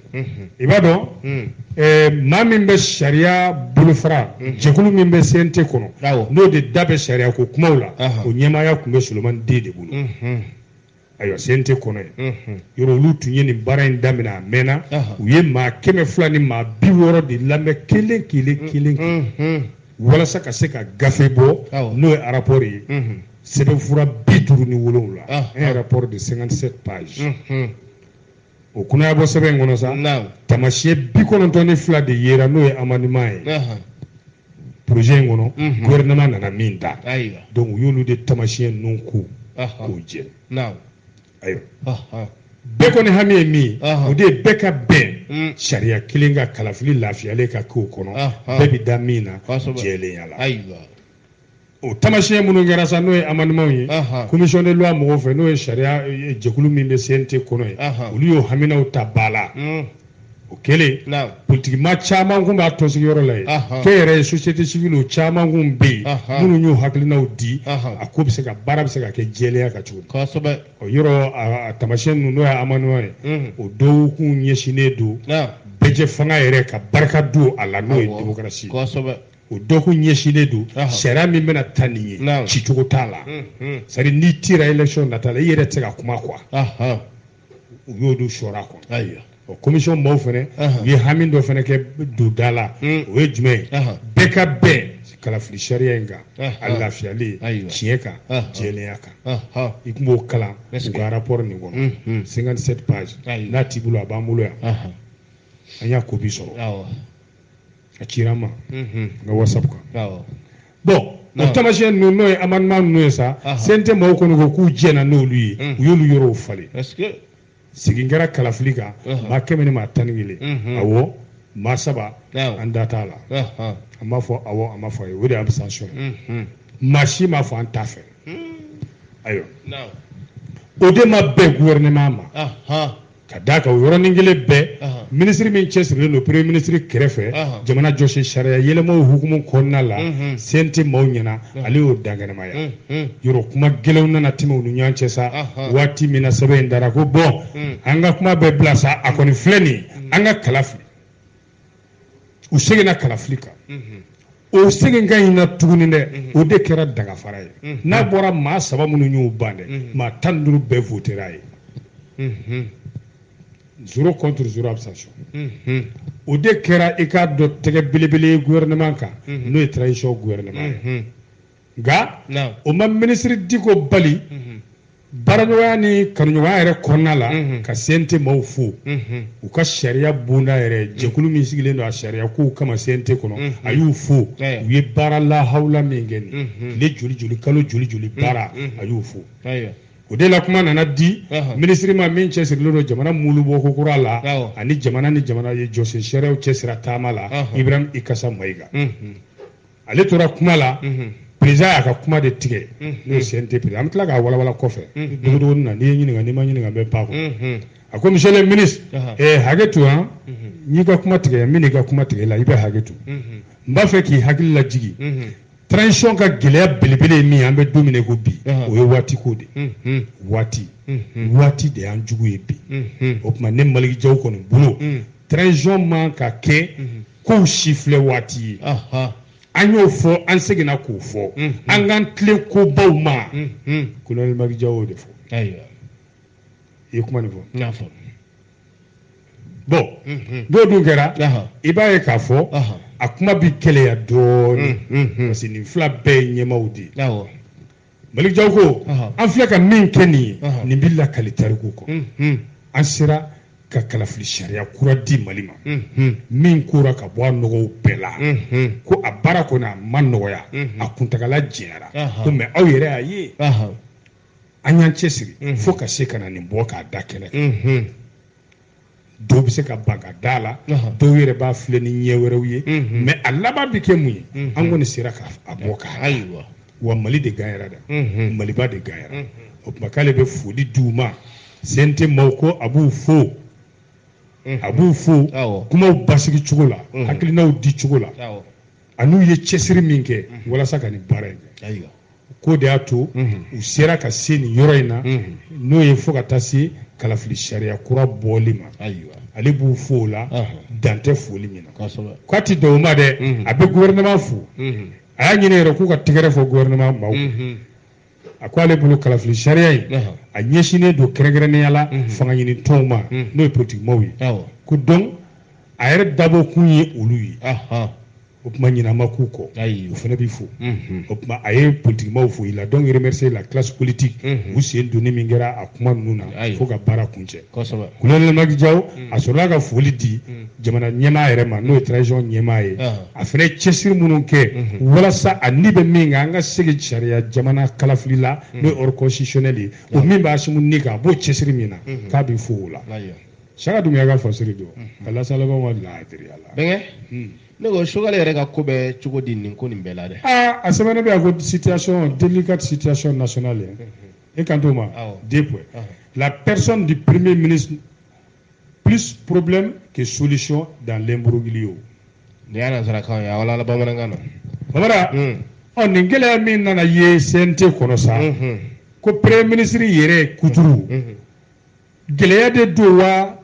i b'a dɔn maa min bɛ sariya bolofara jɛkulu min bɛ CNT kɔnɔ n'o de da bɛ sariya ko kumaw la o ɲɛmaaya tun bɛ solomani de de bolo ayiwa CNT kɔnɔ yen yɔrɔ olu tun ye nin baara in daminɛ a mɛnna u ye maa kɛmɛ fila ni maa bi wɔɔrɔ de lamɛn kelen kelen kelen walasa ka se ka gafe bɔ n'o ye arapɔri ye sɛbɛnfura bi duuru ni wolowula un rapport de 57 pages o kunaya bɔ sɛbɛn in kɔnɔ sa taamasiyɛn bi kɔnɔntɔn ni fila de yera n'o ye amendement ye projet in kɔnɔ mhm. gouvernement nana min ta donc u y'olu de taamasiyɛn ninnu ko k'o jɛ ayiwa bɛɛ kɔni hami ye min ye o de ye bɛɛ ka bɛn mm. sariya kelen kan kalafili lafiyalen ka k'o kɔnɔ bɛɛ bɛ da min na jɛlenya la o tamasiyɛn minnu kɛra sa n'o ye amendementw ye commission de loi mɔgɔw fɛ n'o ye sariya eh, jɛkulu min bɛ CNT kɔnɔ ye olu y'o haminaw ta ba la mm. o kɛlen politikimaa caman kun b'a tɔnsigiyɔrɔ la yen k'e yɛrɛ ye société civile o caman kun bɛ yen minnu y'u hakilinaw di a ko bɛ se ka baara bɛ se ka kɛ jɛlenya kan cogo kosɛbɛ o yɔrɔ a tamasiyɛn ninnu n'o ye amendementw ye mm. o dɔw kun ɲɛsinnen don bɛɛjɛfanga yɛrɛ ka barika don a la n'o ye démocratie kosɛbɛ o dɔ kun ɲɛsinnen don sariya min bɛna ta nin ye cicogo t'a la sari n'i tira élection nata la i yɛrɛ tɛ se ka kuma quoi u y'o don sɔra quoi ayiwa o commission maaw fana u ye hami dɔ fana kɛ donda la o ye jumɛn ye bɛɛ ka bɛn kalafili sariya in kan a lafiyalen tiɲɛ kan jɛlenya kan i tun b'o kalan u ka rapport nin kɔnɔ 57 pages n'a t'i bolo a b'an bolo yan an y'a copie sɔrɔ a cira n ma n ka whatsapp kan bon o tamasiyɛn ninnu n'o ye amendement ninnu ye sa CNT maaw kɔni ko k'u jɛna n'olu ye u y'olu yɔrɔw falen sigi kɛra kalafili kan maa kɛmɛ ni maa tan ni kelen awɔ maa saba an da t'a la an m'a fɔ awɔ an m'a fɔ ayi o de ye abstention ye maa si m'a fɔ an t'a fɛ ayiwa o de ma bɛn gouvernement ma ka d'a kan o yɔrɔnin kelen bɛɛ minisiri min cɛsirilen don premier ministre kɛrɛfɛ jamana jɔsen sariya yɛlɛmaw hukumu kɔnɔna la CNT maaw ɲɛ na ale y'o dankɛnɛmaya yɔrɔ kuma gɛlɛnw nana tɛmɛ u ni ɲɔgɔn cɛ sa waati min na sɛbɛn in dara ko bon an ka kuma bɛɛ bila sa a kɔni filɛ nin an ka kala fili u seginna kalafili kan o seginkan in na tuguni dɛ o de kɛra dagafara ye n'a bɔra maa saba minnu y'u ban dɛ maa tan ni duuru bɛɛ votera ye zéro contre zéro abstention o de kɛra i k'a dɔn tɛgɛ belebele ye gouvernement kan n'o ye transition gouvernement ye nka o ma minisiri Dicko bali baaraɲɔgɔnya ni kanuɲɔgɔnya yɛrɛ kɔnɔna la ka CNT maaw fo u ka sariya bonda yɛrɛ jɛkulu min sigilen don a sariya kow kama CNT kɔnɔ a y'u fo u ye baara lahawula min kɛ nin tile joli joli kalo joli joli baara a y'u fo o de la kuma nana di minisiri ma min cɛsirilen don jamana mulubɔ ko kura la ani jamana ni jamana ye jɔsen sariyaw cɛsira taama la Ibrahim Ikassa Maïga ale tora kuma la président y'a ka kuma de tigɛ n'o ye CNT président an bɛ tila k'a walawala kɔfɛ dugu na n'i ye ɲininka n'i ma ɲininka bɛ ba kɔnɔ a ko monsieur le ministre hakɛ to yan n'i ka kuma tigɛ min i ka kuma tigɛ la i bɛ hakɛ to n b'a fɛ k'i hakili lajigin transition ka gɛlɛya belebele ye min an bɛ don min ko bi o ye waati ko de waati waati de y'an jugu ye bi o tuma ne Malick Diaw kɔni bolo transition man ka kɛ kow si filɛ waati ye an y'o fɔ an seginna k'o fɔ an k'an tilen kobaw ma kolonɛli maliki jaw y'o de fɔ i ye kuma nin fɔ bon n'o dun kɛra i b'a ye k'a fɔ a kuma bɛ gɛlɛya dɔɔnin parce que nin fila bɛɛ ye ɲɛmaaw de ye malik jaw ko an filɛ ka min kɛ nin ye nin bɛ lakali tariku kɔ an sera ka kalafili sariya kura di mali ma min kora ka bɔ a nɔgɔw bɛɛ la ko a baara kɔni a ma nɔgɔya a kuntagala janyara ko mais aw yɛrɛ y'a ye an y'an cɛsiri fo ka se ka na nin bɔ k'a da kɛnɛ kan dɔw bɛ se ka ban ka da la dɔw yɛrɛ b'a filɛ ni ɲɛ wɛrɛw ye mais a laban bɛ kɛ mun ye an kɔni sera k'a bɔ k'a da wa mali de ganyara dɛ maliba de ganyara o tuma k'ale bɛ foli di u ma cnt maaw ko a b'u fo a b'u fo kumaw basigi cogo la hakilinaw di cogo la an'u ye cɛsiri min kɛ walasa ka nin baara in kɛ k'o de y'a to u sera ka se nin yɔrɔ in na n'o ye fo ka taa se kalafili sariya kura bɔli ma ale b'u fo o la dan tɛ foli min na k'a tɛ dan o ma dɛ a bɛ gouvernement fo a y'a ɲini yɛrɛ k'u ka tɛgɛrɛ fɔ gouvernement maaw a ko ale bolo kalafili sariya in a ɲɛsinnen don kɛrɛnkɛrɛnnenya la fanga ɲini tɔnw ma n'o ye politikimaaw ye ko donc a yɛrɛ dabɔ kun ye olu ye o tuma ɲinɛ ma k'u kɔ o fana bɛ fo o tuma a ye politikimaaw fo il a donc remercié la classe politique u sen donni min kɛra a kuma ninnu na fo ka baara kuncɛ kolonɛli maliki jaw a sɔrɔla ka foli di jamana ɲɛmaa yɛrɛ ma n'o ye transition ɲɛmaa ye a fana ye cɛsiri minnu kɛ walasa ani bɛ min kan an ka segin sariya jamana kalafili la n'o ye ordre constitutionnel ye o min b'asimi ni kan a b'o cɛsiri min na k'a bɛ fo o la saka dunbiya ka fasari don mhm. ka lasalabɛnw ka laadiriya la bɛnkɛ hmm. ne ko sogɛli yɛrɛ ka ko bɛ cogo di nin ko nin bɛɛ la dɛ aa a sɛbɛnnen bɛ yan ko situation délicate situation nationale mhm. e kan t'o ma deux points la personne du premier ministre plus problème que solution dans l'imbroglio nin y'a nansarakan ye a walala bamanankan na babara hmm. ɔ nin gɛlɛya min nana ye cnt kɔnɔ sa mhm. ko premier ministre yɛrɛ kuturu gɛlɛya de don wa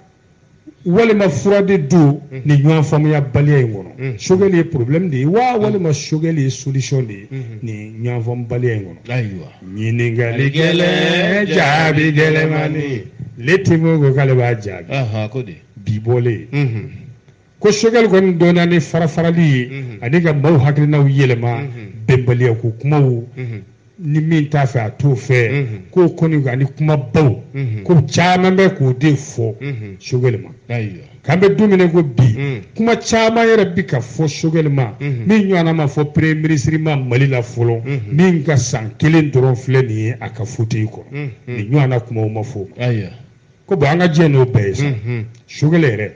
walima fura de don mhm. nin ɲɔgɔn faamuya baliya in kɔnɔ mhm. sogɛli ye problème de ye wa mhm. walima sogɛli ye solution de ye nin ɲɔgɔn faamu baliya in kɔnɔ ayiwa ɲininkali gɛlɛn jaabi gɛlɛmani le témoin ko k'ale b'a jaabi bi bɔlen ko sogɛli kɔni dɔnna ni farafarali ye ani ka maaw hakilinaw yɛlɛma bɛnbaliya ko kumaw ni min t'a fɛ a t'o fɛ k'o kɔni ani kumabaw ko caman bɛ k'o de fɔ sogɛli ma k'an bɛ don min ko bi kuma caman yɛrɛ bi ka fɔ sogɛli ma min ɲɔgɔnna ma fɔ premier ministre ma mali la fɔlɔ min ka san kelen dɔrɔn filɛ nin ye a ka fauteuil kɔnɔ nin ɲɔgɔnna kumaw ma fɔ ko bon an ka diɲɛ n'o bɛɛ ye sa sogɛli yɛrɛ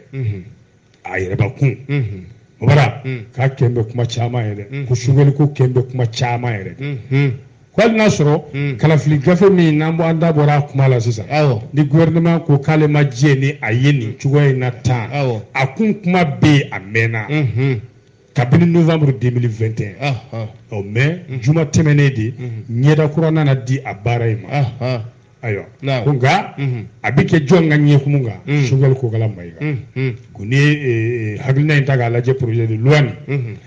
a yɛrɛbakun o bara k'a kɛn bɛ kuma caman yɛrɛ ko sogɛli ko kɛn bɛ kuma caman yɛrɛ ko hali n'a sɔrɔ kalafili gafe min n'an bɔ an da bɔra a kuma la sisan ni gouvernement ko k'ale ma diɲɛ ni a ye nin cogoya in na tan a kun kuma bɛ yen a mɛnna kabini novembre 2021 ɔ mais juma tɛmɛnen de ɲɛda kura nana di a baara in ma ayiwa ko nka a bɛ kɛ jɔn ka ɲɛkumu kan sogɛli kokala mayiga ko ni hakilina in ta k'a lajɛ projet de loi nin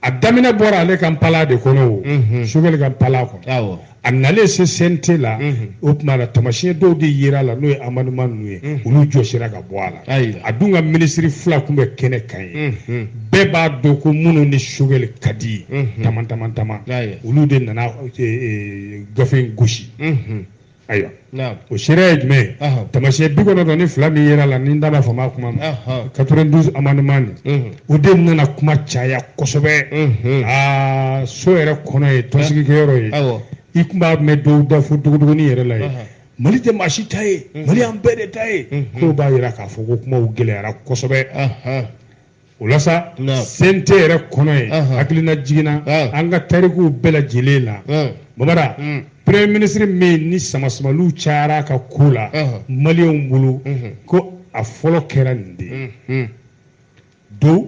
a daminɛ bɔra ale ka npalan de kɔnɔ o sogɛli ka npalan kɔnɔ a nalen se CNT la o tuma na tamasiyɛn dɔw de yera a la n'o ye amendement ninnu ye olu jɔsira ka bɔ a la a dun ka minisiri fila tun bɛ kɛnɛ kan ye bɛɛ b'a dɔn ko minnu ni sogɛli ka di ye taman taman taman olu de nana gafe in gosi ayiwa o seereya ye jumɛn ye tamasiyɛn bi kɔnɔntɔn ni fila min yera a la ni n da ma fama kuma ma quatre-vingt-douze amendement nin o de nana kuma caya kosɛbɛ aa so yɛrɛ kɔnɔ ye tɔnsigikɛyɔrɔ ye i tun b'a mɛn dɔw da fo dogodogonin yɛrɛ la ye mali tɛ maa si ta ye mali y'an bɛɛ de ta ye k'o b'a jira k'a fɔ ko kumaw gɛlɛyara kosɛbɛ o la sa CNT yɛrɛ kɔnɔ ye hakilina jiginna an ka tarikuw bɛɛ lajɛlen la babara premier ministre min ni samasamaliw cayara a ka ko la maliyɛnw bolo ko a fɔlɔ kɛra nin de ye dɔw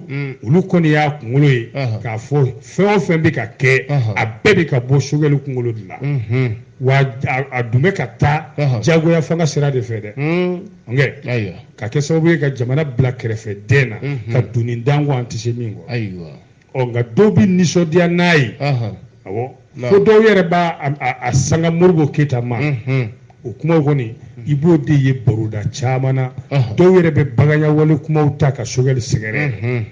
olu kɔni y'a kunkolo ye k'a fɔ fɛn o fɛn bɛ ka kɛ a bɛɛ bɛ ka bɔ sogɛli kunkolo de la wa a dun bɛ ka taa jagoya fanga sira de fɛ dɛ ayiwa ka kɛ sababu ye ka jamana bila kɛrɛfɛ den na mhm. ka doni da an kun an tɛ se min kɔrɔ ayiwa ɔ nka dɔw bɛ nisɔndiya n'a ye awɔ fo dɔw yɛrɛ b'a a sanga modibo keyita ma mhm. o kumaw kɔni i b'o de ye baroda caman na dɔw yɛrɛ bɛ baganyawale kumaw ta ka sogɛli sɛgɛrɛ mhm.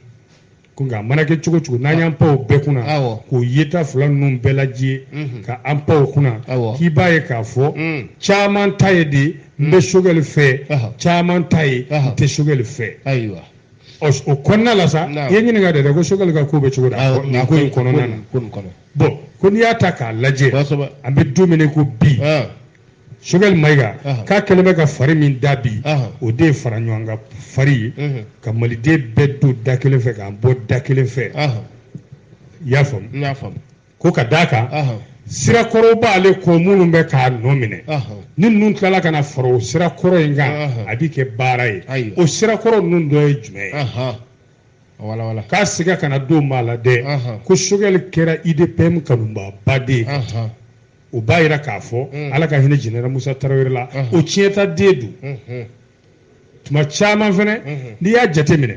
ko nka a mana kɛ cogo cogo n'an y'an pan o bɛɛ kunna k'o yeta fila ninnu bɛɛ lajɛ mhm. ka an pan o kunna k'i b'a ye k'a fɔ mm. caman ta ye de n bɛ mm. sogɛli fɛ caman ta ye n tɛ sogɛli fɛ ayiwa o kɔnɔna la sa i ye ɲininka de dɛ ko sogɛli ka ko bɛ cogo da nin ko in kɔnɔna na bon ko n'i y'a ta k'a lajɛ an bɛ don min ko bi sogɛli mayiga k'a kɛlen bɛ ka fari min da bi o de ye fara ɲɔgɔn kan fari ye ka maliden bɛɛ don da kelen fɛ k'an bɔ da kelen fɛ i y'a faamu ko ka d'a kan sira kɔrɔ b'ale kɔ minnu bɛ k'a nɔ minɛ ni ninnu tilala ka na fara o sira kɔrɔ in kan a bɛ kɛ baara ye o sira kɔrɔ ninnu dɔ ye jumɛn ye k'a siga kana don maa la dɛ ko sogɛli kɛra UDPM kanubaaba de ye o b'a yira k'a fɔ mm. ala ka hinɛ jɛnɛra musa tarawele la mm-hmm. o tiɲɛtaden don mm-hmm. tuma caman fɛnɛ mm-hmm. n'i y'a jate minɛ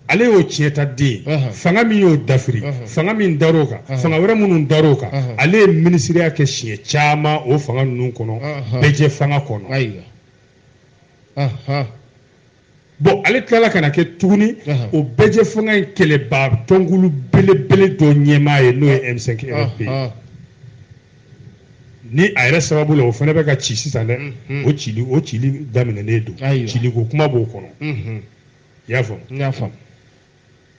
ale y'o tiɲɛtaden fanga min y'o dafiri fanga min dar'o kan fanga wɛrɛ minnu dar'o kan ale ye minisiriya kɛ siɲɛ caman o fanga ninnu kɔnɔ bɛɛjɛfanga kɔnɔ bon ale tilala ka na kɛ tuguni o bɛɛjɛfanga in kɛlɛbaa tɔnkulu belebele dɔ ɲɛmaa ye n'o ye M5 RFP ni a yɛrɛ sababu la o fana bɛ ka ci sisan dɛ mhm. o cili o cili daminɛnen don ciliko kuma b'o kɔnɔ mhm. i y'a faamu n y'a faamu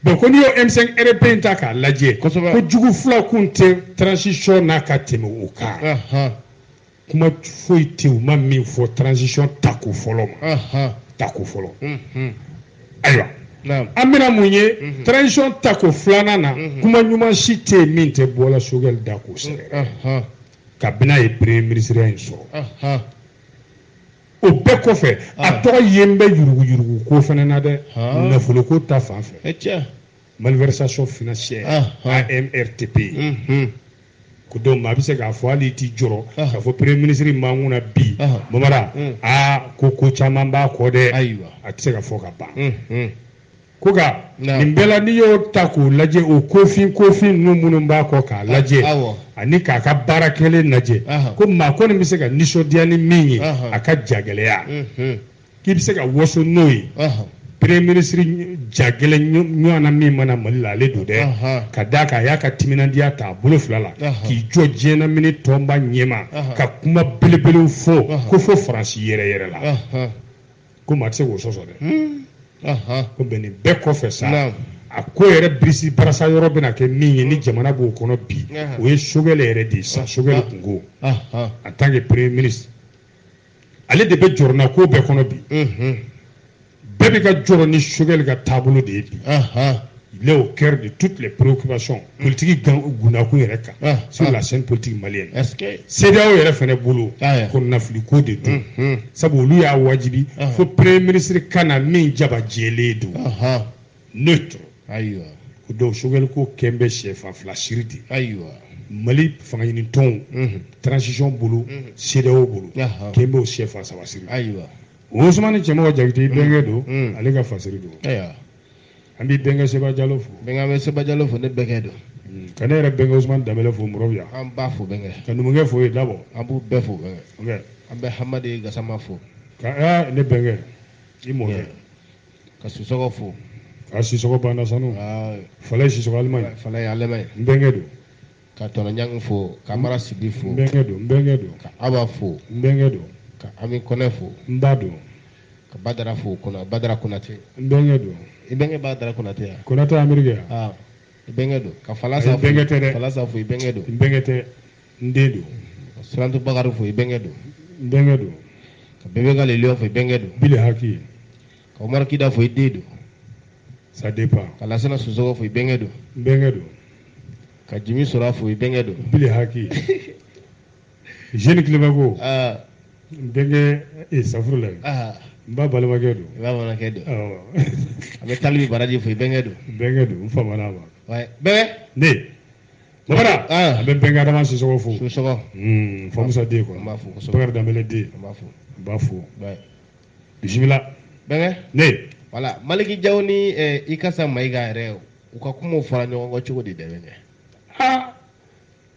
bon ko n'i y'o M5 RFP in ta k'a lajɛ ko jugu fila kun tɛ transition na ka tɛmɛ o kan kuma foyi tɛ u ma min fɔ transition tako fɔlɔ ma tako fɔlɔ ayiwa an bɛna mun ye mhm. transition tako filanan na mhm. kuma ɲuman si tɛ yen min tɛ bɔla sogɛli da k'o sɛgɛrɛ kabini a ye premier minisiriya in sɔrɔ o bɛɛ kɔfɛ a tɔgɔ yelen bɛ yuruguyuruguko fana na dɛ nafoloko ta fan fɛ malversation financière AMRTP ko donc maa bɛ se k'a fɔ hali i t'i jɔrɔ k'a fɔ premier ministre min b'an kunna bi Mamara aa ko ko caman b'a kɔ dɛ ayiwa a tɛ se ka fɔ ka ban ko nka nin bɛɛ la n'i y'o ta k'o lajɛ o kofin kofin ninnu minnu b'a kɔ k'a lajɛ ani k'a ka baara kɛlen lajɛ ko maa kɔni bɛ se ka nisɔndiya ni min ye a ka jagɛlɛya k'i bɛ se ka waso n'o ye premier ministre jagɛlɛn ɲɔgɔnna min ma na mali la ale don dɛ ka d'a kan a y'a ka timinandiya ta a bolo fila la k'i jɔ diɲɛnamini tɔnba ɲɛma ka kuma belebelew fɔ k'o fɔ faransi yɛrɛ yɛrɛ la ko maa tɛ se k'o sɔsɔ dɛ ko bɛn nin bɛɛ kɔfɛ sa a ko yɛrɛ birisi barasa yɔrɔ bɛna kɛ min ye ni jamana b'o kɔnɔ bi o ye sogɛli yɛrɛ de ye sa sogɛli kunko en tant que premier ministre ale de bɛ jɔrɔnanko bɛɛ kɔnɔ bi bɛɛ bɛ ka jɔrɔ ni sogɛli ka taabolo de ye bi il est au cœur de toutes les préoccupations politiki gundakun yɛrɛ kan sur la scène politique malienne CEDEAO yɛrɛ fɛnɛ bolo kɔnɔnafiliko de don sabu olu y'a wajibi fo premier ministre ka na min jama jɛlen don neutre ayiwa ko donc sogɛli ko kɛn bɛ sɛfan fila siri de ayiwa mali fanga ɲini tɔnw mhm. transition bolo mhm. CEDEAO bolo kɛn bɛ o sɛfan saba siri ayiwa Ousmane Cɛmɔgɔ Jakite mhm. bɛnkɛ don ale ka fasiri don ayiwa an b'i bɛnkɛ Seba Jalo fo bɛnkɛ an bɛ Seba Jalo fo ne bɛnkɛ don ka ne yɛrɛ bɛnkɛ Ousmane Danbɛlɛ fo Mɔrɔbu yan an b'a fo bɛnkɛ ka numukɛ fo yen Dabɔ an b'u bɛɛ fo bɛnkɛ an bɛ Hamadi Gasama fo ka ne bɛnkɛ i mɔkɛ ka sisɔgɔ fo a sisɔgɔ banna sanu falaye sisɔgɔ alimami falaye alimami n bɛnkɛ don ka tɔnɔɲangi fo ka mara sibi fo n bɛnkɛ don ka aba fo n bɛnkɛ don ka ami kɔnɛ fo n ba don ka badara fo kɔnɔ badara konate n bɛnkɛ don i bɛnkɛ badara konate ya konate amerikɛ ya bɛnkɛ don ka falasa bɛnkɛ tɛ dɛ falasa fo i bɛnkɛ don bɛnkɛ tɛ n den don ka surantu bakari fo i bɛnkɛ don n bɛnkɛ don ka bebe galileyɔ fo i bɛnkɛ don bile haki ka umaru kida fo i den don ça dépend ka lasana sisɔgɔ fo i bɛnkɛ don n bɛnkɛ don ka jimi sora fo i bɛnkɛ don bile haki zeni tileba ko n bɛnkɛ safurula n ba balimakɛ don n ba balimakɛ don an bɛ talibi baraji fo i bɛnkɛ don bɛnkɛ don n famana ma bɛnkɛ ne babara a bɛ bɛnkɛ adama sisɔgɔ fo sisɔgɔ hmm, famusa den kɔrɔ n b'a fo bakari danbɛlɛ den n b'a fo n b'a fo bisimila bɛnkɛ ne voilà maliki jaw ni eh, ikasa mayiga yɛrɛ u ka kumaw fɔra ɲɔgɔn kɔ cogo di dɛ bɛnkɛ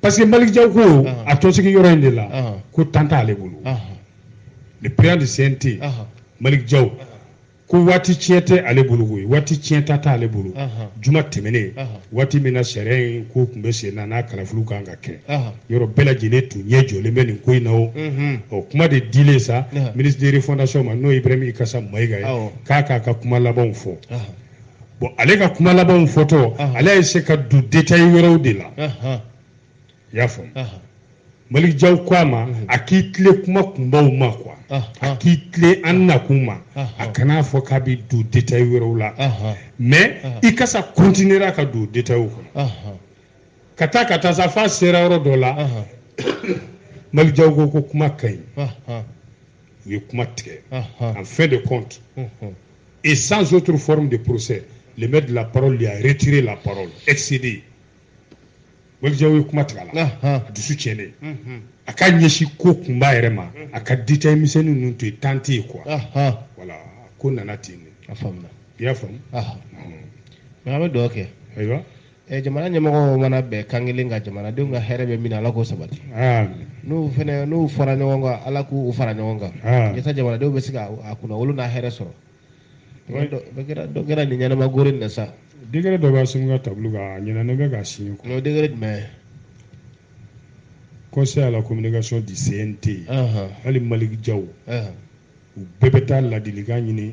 parce que Maliki Jaw ko a tɔnsigi yɔrɔ in de la ko temps t'ale bolo le président du CNT Maliki Jaw ko waati tiɲɛ tɛ ale bolo koyi waati tiɲɛta t'ale bolo juma tɛmɛnen waati min na sariya in ko tun bɛ sen na n'a kalafiliw kan ka kɛ yɔrɔ bɛɛ lajɛlen tun ɲɛ jɔlen bɛ nin ko in na o ɔ kuma de dilen sa ministre de refondation ma n'o ye Ibrahim Ikasa Mayiga ye k'a k'a ka kuma labanw fɔ. bon ale ka kuma labanw fɔtɔ ale ye se ka don détail wɛrɛw de la i y'a faamu malik jaw ko a ma a k'i tilen kuma kunbaw ma quoi a k'i tilen an nakun ma a kan'a fɔ k'a bɛ don détail wɛrɛw la mais ikasa continuera ka don détailw kɔnɔ ka taa ka taa sa f'a sera yɔrɔ dɔ la malik jaw ko ko kuma ka ɲi u ye kuma tigɛ en fin de compte Et sans autre forme de procès, le maître de la parole lui a retiré la parole, excédé. Maliki Jaw ye kuma tigɛ a la a dusu tiɲɛnen a ka ɲɛsin ko kunba yɛrɛ ma a ka détail misɛnnin ninnu to yen temps tɛ yen quoi voilà ko nana ten de i y'a faamu mais an bɛ dugawu kɛ ayiwa Eh, jamana ɲɛmɔgɔw mana bɛn kan kelen kan jamanadenw ka hɛrɛ bɛ min na ala k'o sabati n'u fana n'u fara ɲɔgɔn kan ala k'u fara ɲɔgɔn kan yasa jamanadenw bɛ se ka a kunnawolo n'a hɛrɛ sɔrɔ dɔ kɛra nin ɲɛnama gori na sa décret dɔ bɛ sun ka tabali kan a ɲɛna ne bɛ ka signé kɔnɔ décret jumɛn conseil à la communication du CNT hali Malick Diaw u bɛɛ bɛ taa ladilikan ɲini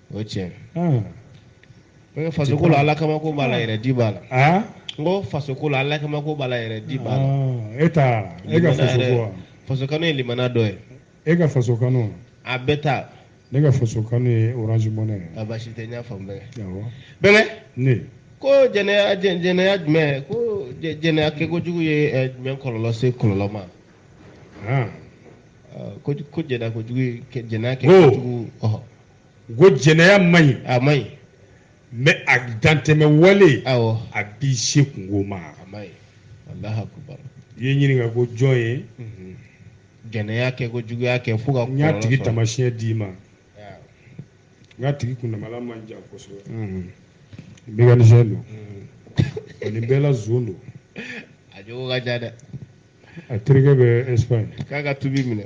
o ye tiɲɛ ye ko faso ko la ala kama ko b'a la yɛrɛ di b'a la n ko faso ko la ala kama ko b'a la yɛrɛ di b'a la e ta e ka faso ko wa faso kanu ye limana dɔ ye e ka faso kanu a bɛɛ ta ne ka faso kanu ye orange money ye a basi tɛ n y'a faamu bɛnkɛ ne ko jɛnɛya jɛnɛya jumɛn ko jɛnɛya kɛkojugu ye eh, jumɛn kɔlɔlɔ se kɔlɔlɔ ma ah. ah, ko jɛnɛya kojugu jɛnɛya kɛkojugu ko jɛnɛya man ɲi a man ɲi mais a dantɛmɛ wale awɔ a b'i se kunko ma a man ɲi Allahu akubar i ye ɲininka ko jɔn ye mhm. jɛnɛya kɛ ko juguya kɛ fo ka n y'a tigi taamasiyɛn d'i ma n y'a tigi kundama la man jan kosɛbɛ mhm. mécanicien don mhm. nin bɛɛ la zon don a jogo ka ca dɛ a terikɛ bɛ espagne k'a ka tubi minɛ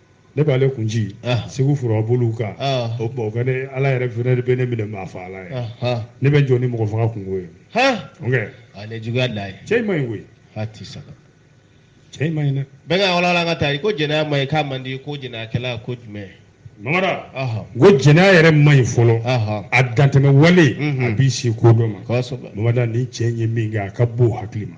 ne b'ale kun ci ah. segu fura bolo kan ah. o tuma o ka ne ala yɛrɛ fana de bɛ ne minɛ maa faga la ye ah, ne bɛ jɔ ni mɔgɔ faga kunko ye ok ale juguya da ye cɛ in man ɲi koyi a ti saba cɛ in man ɲi dɛ bɛɛ ka walawala ka taa i ko jɛnɛya man ɲi k'a man di ko jɛnɛyakɛla ko jumɛn mamada ko jɛnɛya yɛrɛ man ɲi fɔlɔ a dantɛmɛ wale mhm. a b'i se ko dɔ ma mamada ni cɛ in ye min kɛ a ka bon hakili ma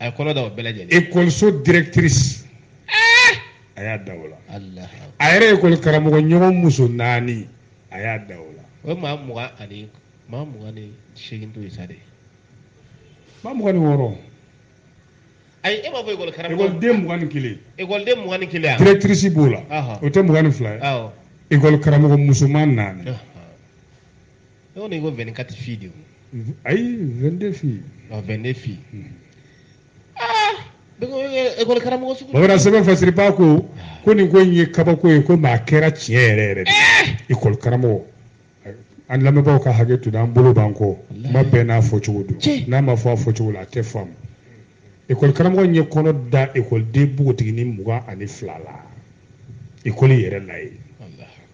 a ye kɔnɔ da o bɛɛ lajɛlen ekɔliso directrice eh! a y'a da o la a yɛrɛ ekɔli karamɔgɔ ɲɔgɔn muso naani a y'a da o la o ye maa mugan ani maa mugan ni seegin to ye sa de maa mugan ni wɔɔrɔ ayi e b'a fɔ ekɔli karamɔgɔ ekɔliden mugan ni kelen ekɔliden mugan ni kelen directrice b'o la o tɛ mugan ni fila ye ekɔli karamɔgɔ musoman naani ne ko ne ko 24 filles de don ayi 22 filles ɔ 22 filles aa ne ko ee, ekɔli karamɔgɔ sugu bamanan sɛbɛn fasiriba ko ko nin ko in ye kabako ye ko maa kɛra tiɲɛ yɛrɛ yɛrɛ de ye ekɔli karamɔgɔ an lamɛnbaaw ka hakɛ to an bolo b'an kɔ kuma bɛɛ n'a fɔcogo don Tiɲɛ. n'a ma fɔ a fɔcogo la a tɛ faamu ekɔli karamɔgɔ in ye kɔnɔ da ekɔliden npogotiginin mugan ani fila la ekɔli yɛrɛ la ye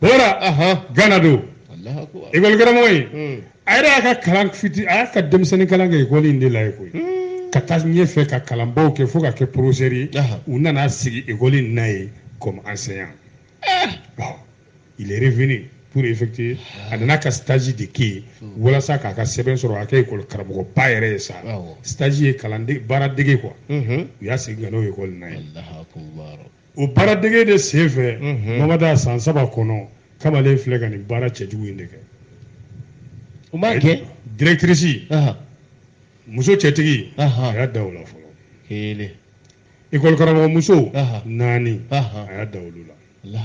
bɔra gana don ekɔli karamɔgɔ ye hmm. a yɛrɛ y'a ka kalan fitinin a y'a ka denmisɛnnin kalan kɛ ekɔli in de la ye koyi hmm. ka taa ɲɛfɛ ka kalanbaw kɛ fo ka kɛ professeur ye u nana sigi ekɔli in na ye comme enseignant eh. il est revenu pour effectuer a nana ka stage de kɛ yen hmm. walasa k'a ka sɛbɛn sɔrɔ a kɛ ekɔli karamɔgɔba yɛrɛ ye sa stage ye kalanden baara dege quoi u y'a segin ka n'o ekɔli in na ye o baara dege de sen fɛ mhm. mamada san saba kɔnɔ kamalen filɛ ka nin baara cɛjugu in de kɛ o m'a kɛ directrice muso cɛtigi a y'a da o la fɔlɔ kelen école karamɔgɔ muso naani a y'a da olu la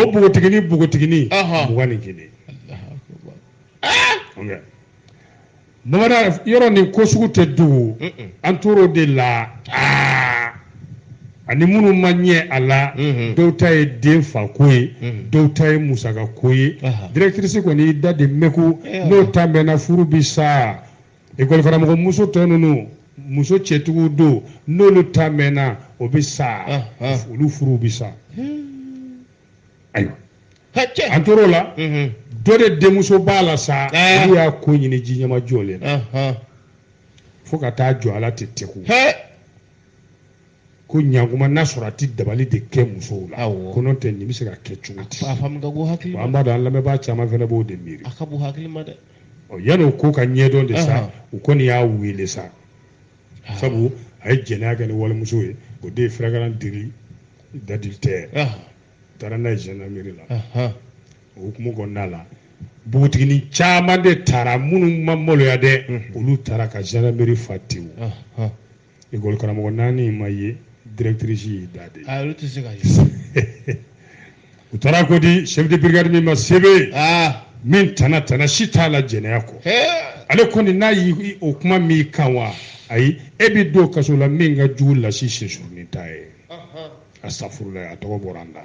o npogotigini npogotigini mugan ni kelen bamanan yɔrɔ nin ko sugu tɛ dogo an tor'o de la aa ani minnu ma ɲɛ a la dɔw ta ye den fa ko ye dɔw ta ye musaka ko ye directrice kɔni y'i da de mɛku n'o ta mɛnna furu bi sa école karamɔgɔ muso tɔ ninnu muso cɛtigiw don n'olu ta mɛnna o bɛ sa olu furuw bɛ sa hmm. ayiwa an tor'o la mhm. dɔ de denmuso b'a la sa olu y'a ko ɲini ji ɲɛmajɔlen na fo ka taa jɔ ala tɛ tɛku ko ɲankuma n'a sɔrɔ a tɛ dabali de kɛ musow la ko n'o tɛ nin bɛ se ka kɛ cogo di an b'a dɔn an lamɛnbaa caman fana b'o de miiri yanni o ko ka ɲɛdɔn de sa u kɔni y'a wele sa sabu a ye jɛnɛya kɛ ni walimuso ye o de ye flagrant délit d'adultère u taara n'a ye gendarmerie la o hukumu kɔnɔna la npogotigini caman de taara minnu ma maloya dɛ olu taara ka gendarmerie fa tewu École karamɔgɔ naani ma ye directrice y'i da de. Ah olu tɛ se ka ye. U taara ko di chef de brigade min ma sebe. Ah. Min tana tana si t'a la jɛnɛya kɔ. Ale kɔni n'a yi o kuma m'i kan wa ayi e bɛ don kaso la min ka jugu lasi sensurunin ta ye. Astafurulayi a tɔgɔ bɔra an da.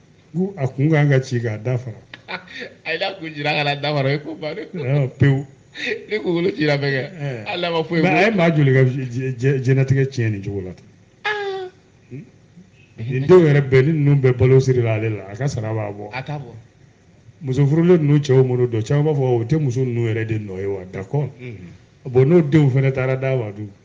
ko a kun kan ka ci k'a da fara a ye n'a kun cira ka na da fara o ye ko bannen ye pewu ni kungolo cira bɛnkɛ eh. hali n'a ma foyi a ye maa joli ka diɲɛnatigɛ tiɲɛ nin cogo la tan ah. hmm? nin denw yɛrɛ bɛɛ ni ninnu bɛɛ balo sirila ale la a ka sara b'a bɔ a t'a bɔ muso furulen ninnu cɛw minnu dɔn caman b'a fɔ o tɛ muso ninnu yɛrɛ de nɔ ye wa d'accord hmm. bon n'o denw fana taara d'a ma dun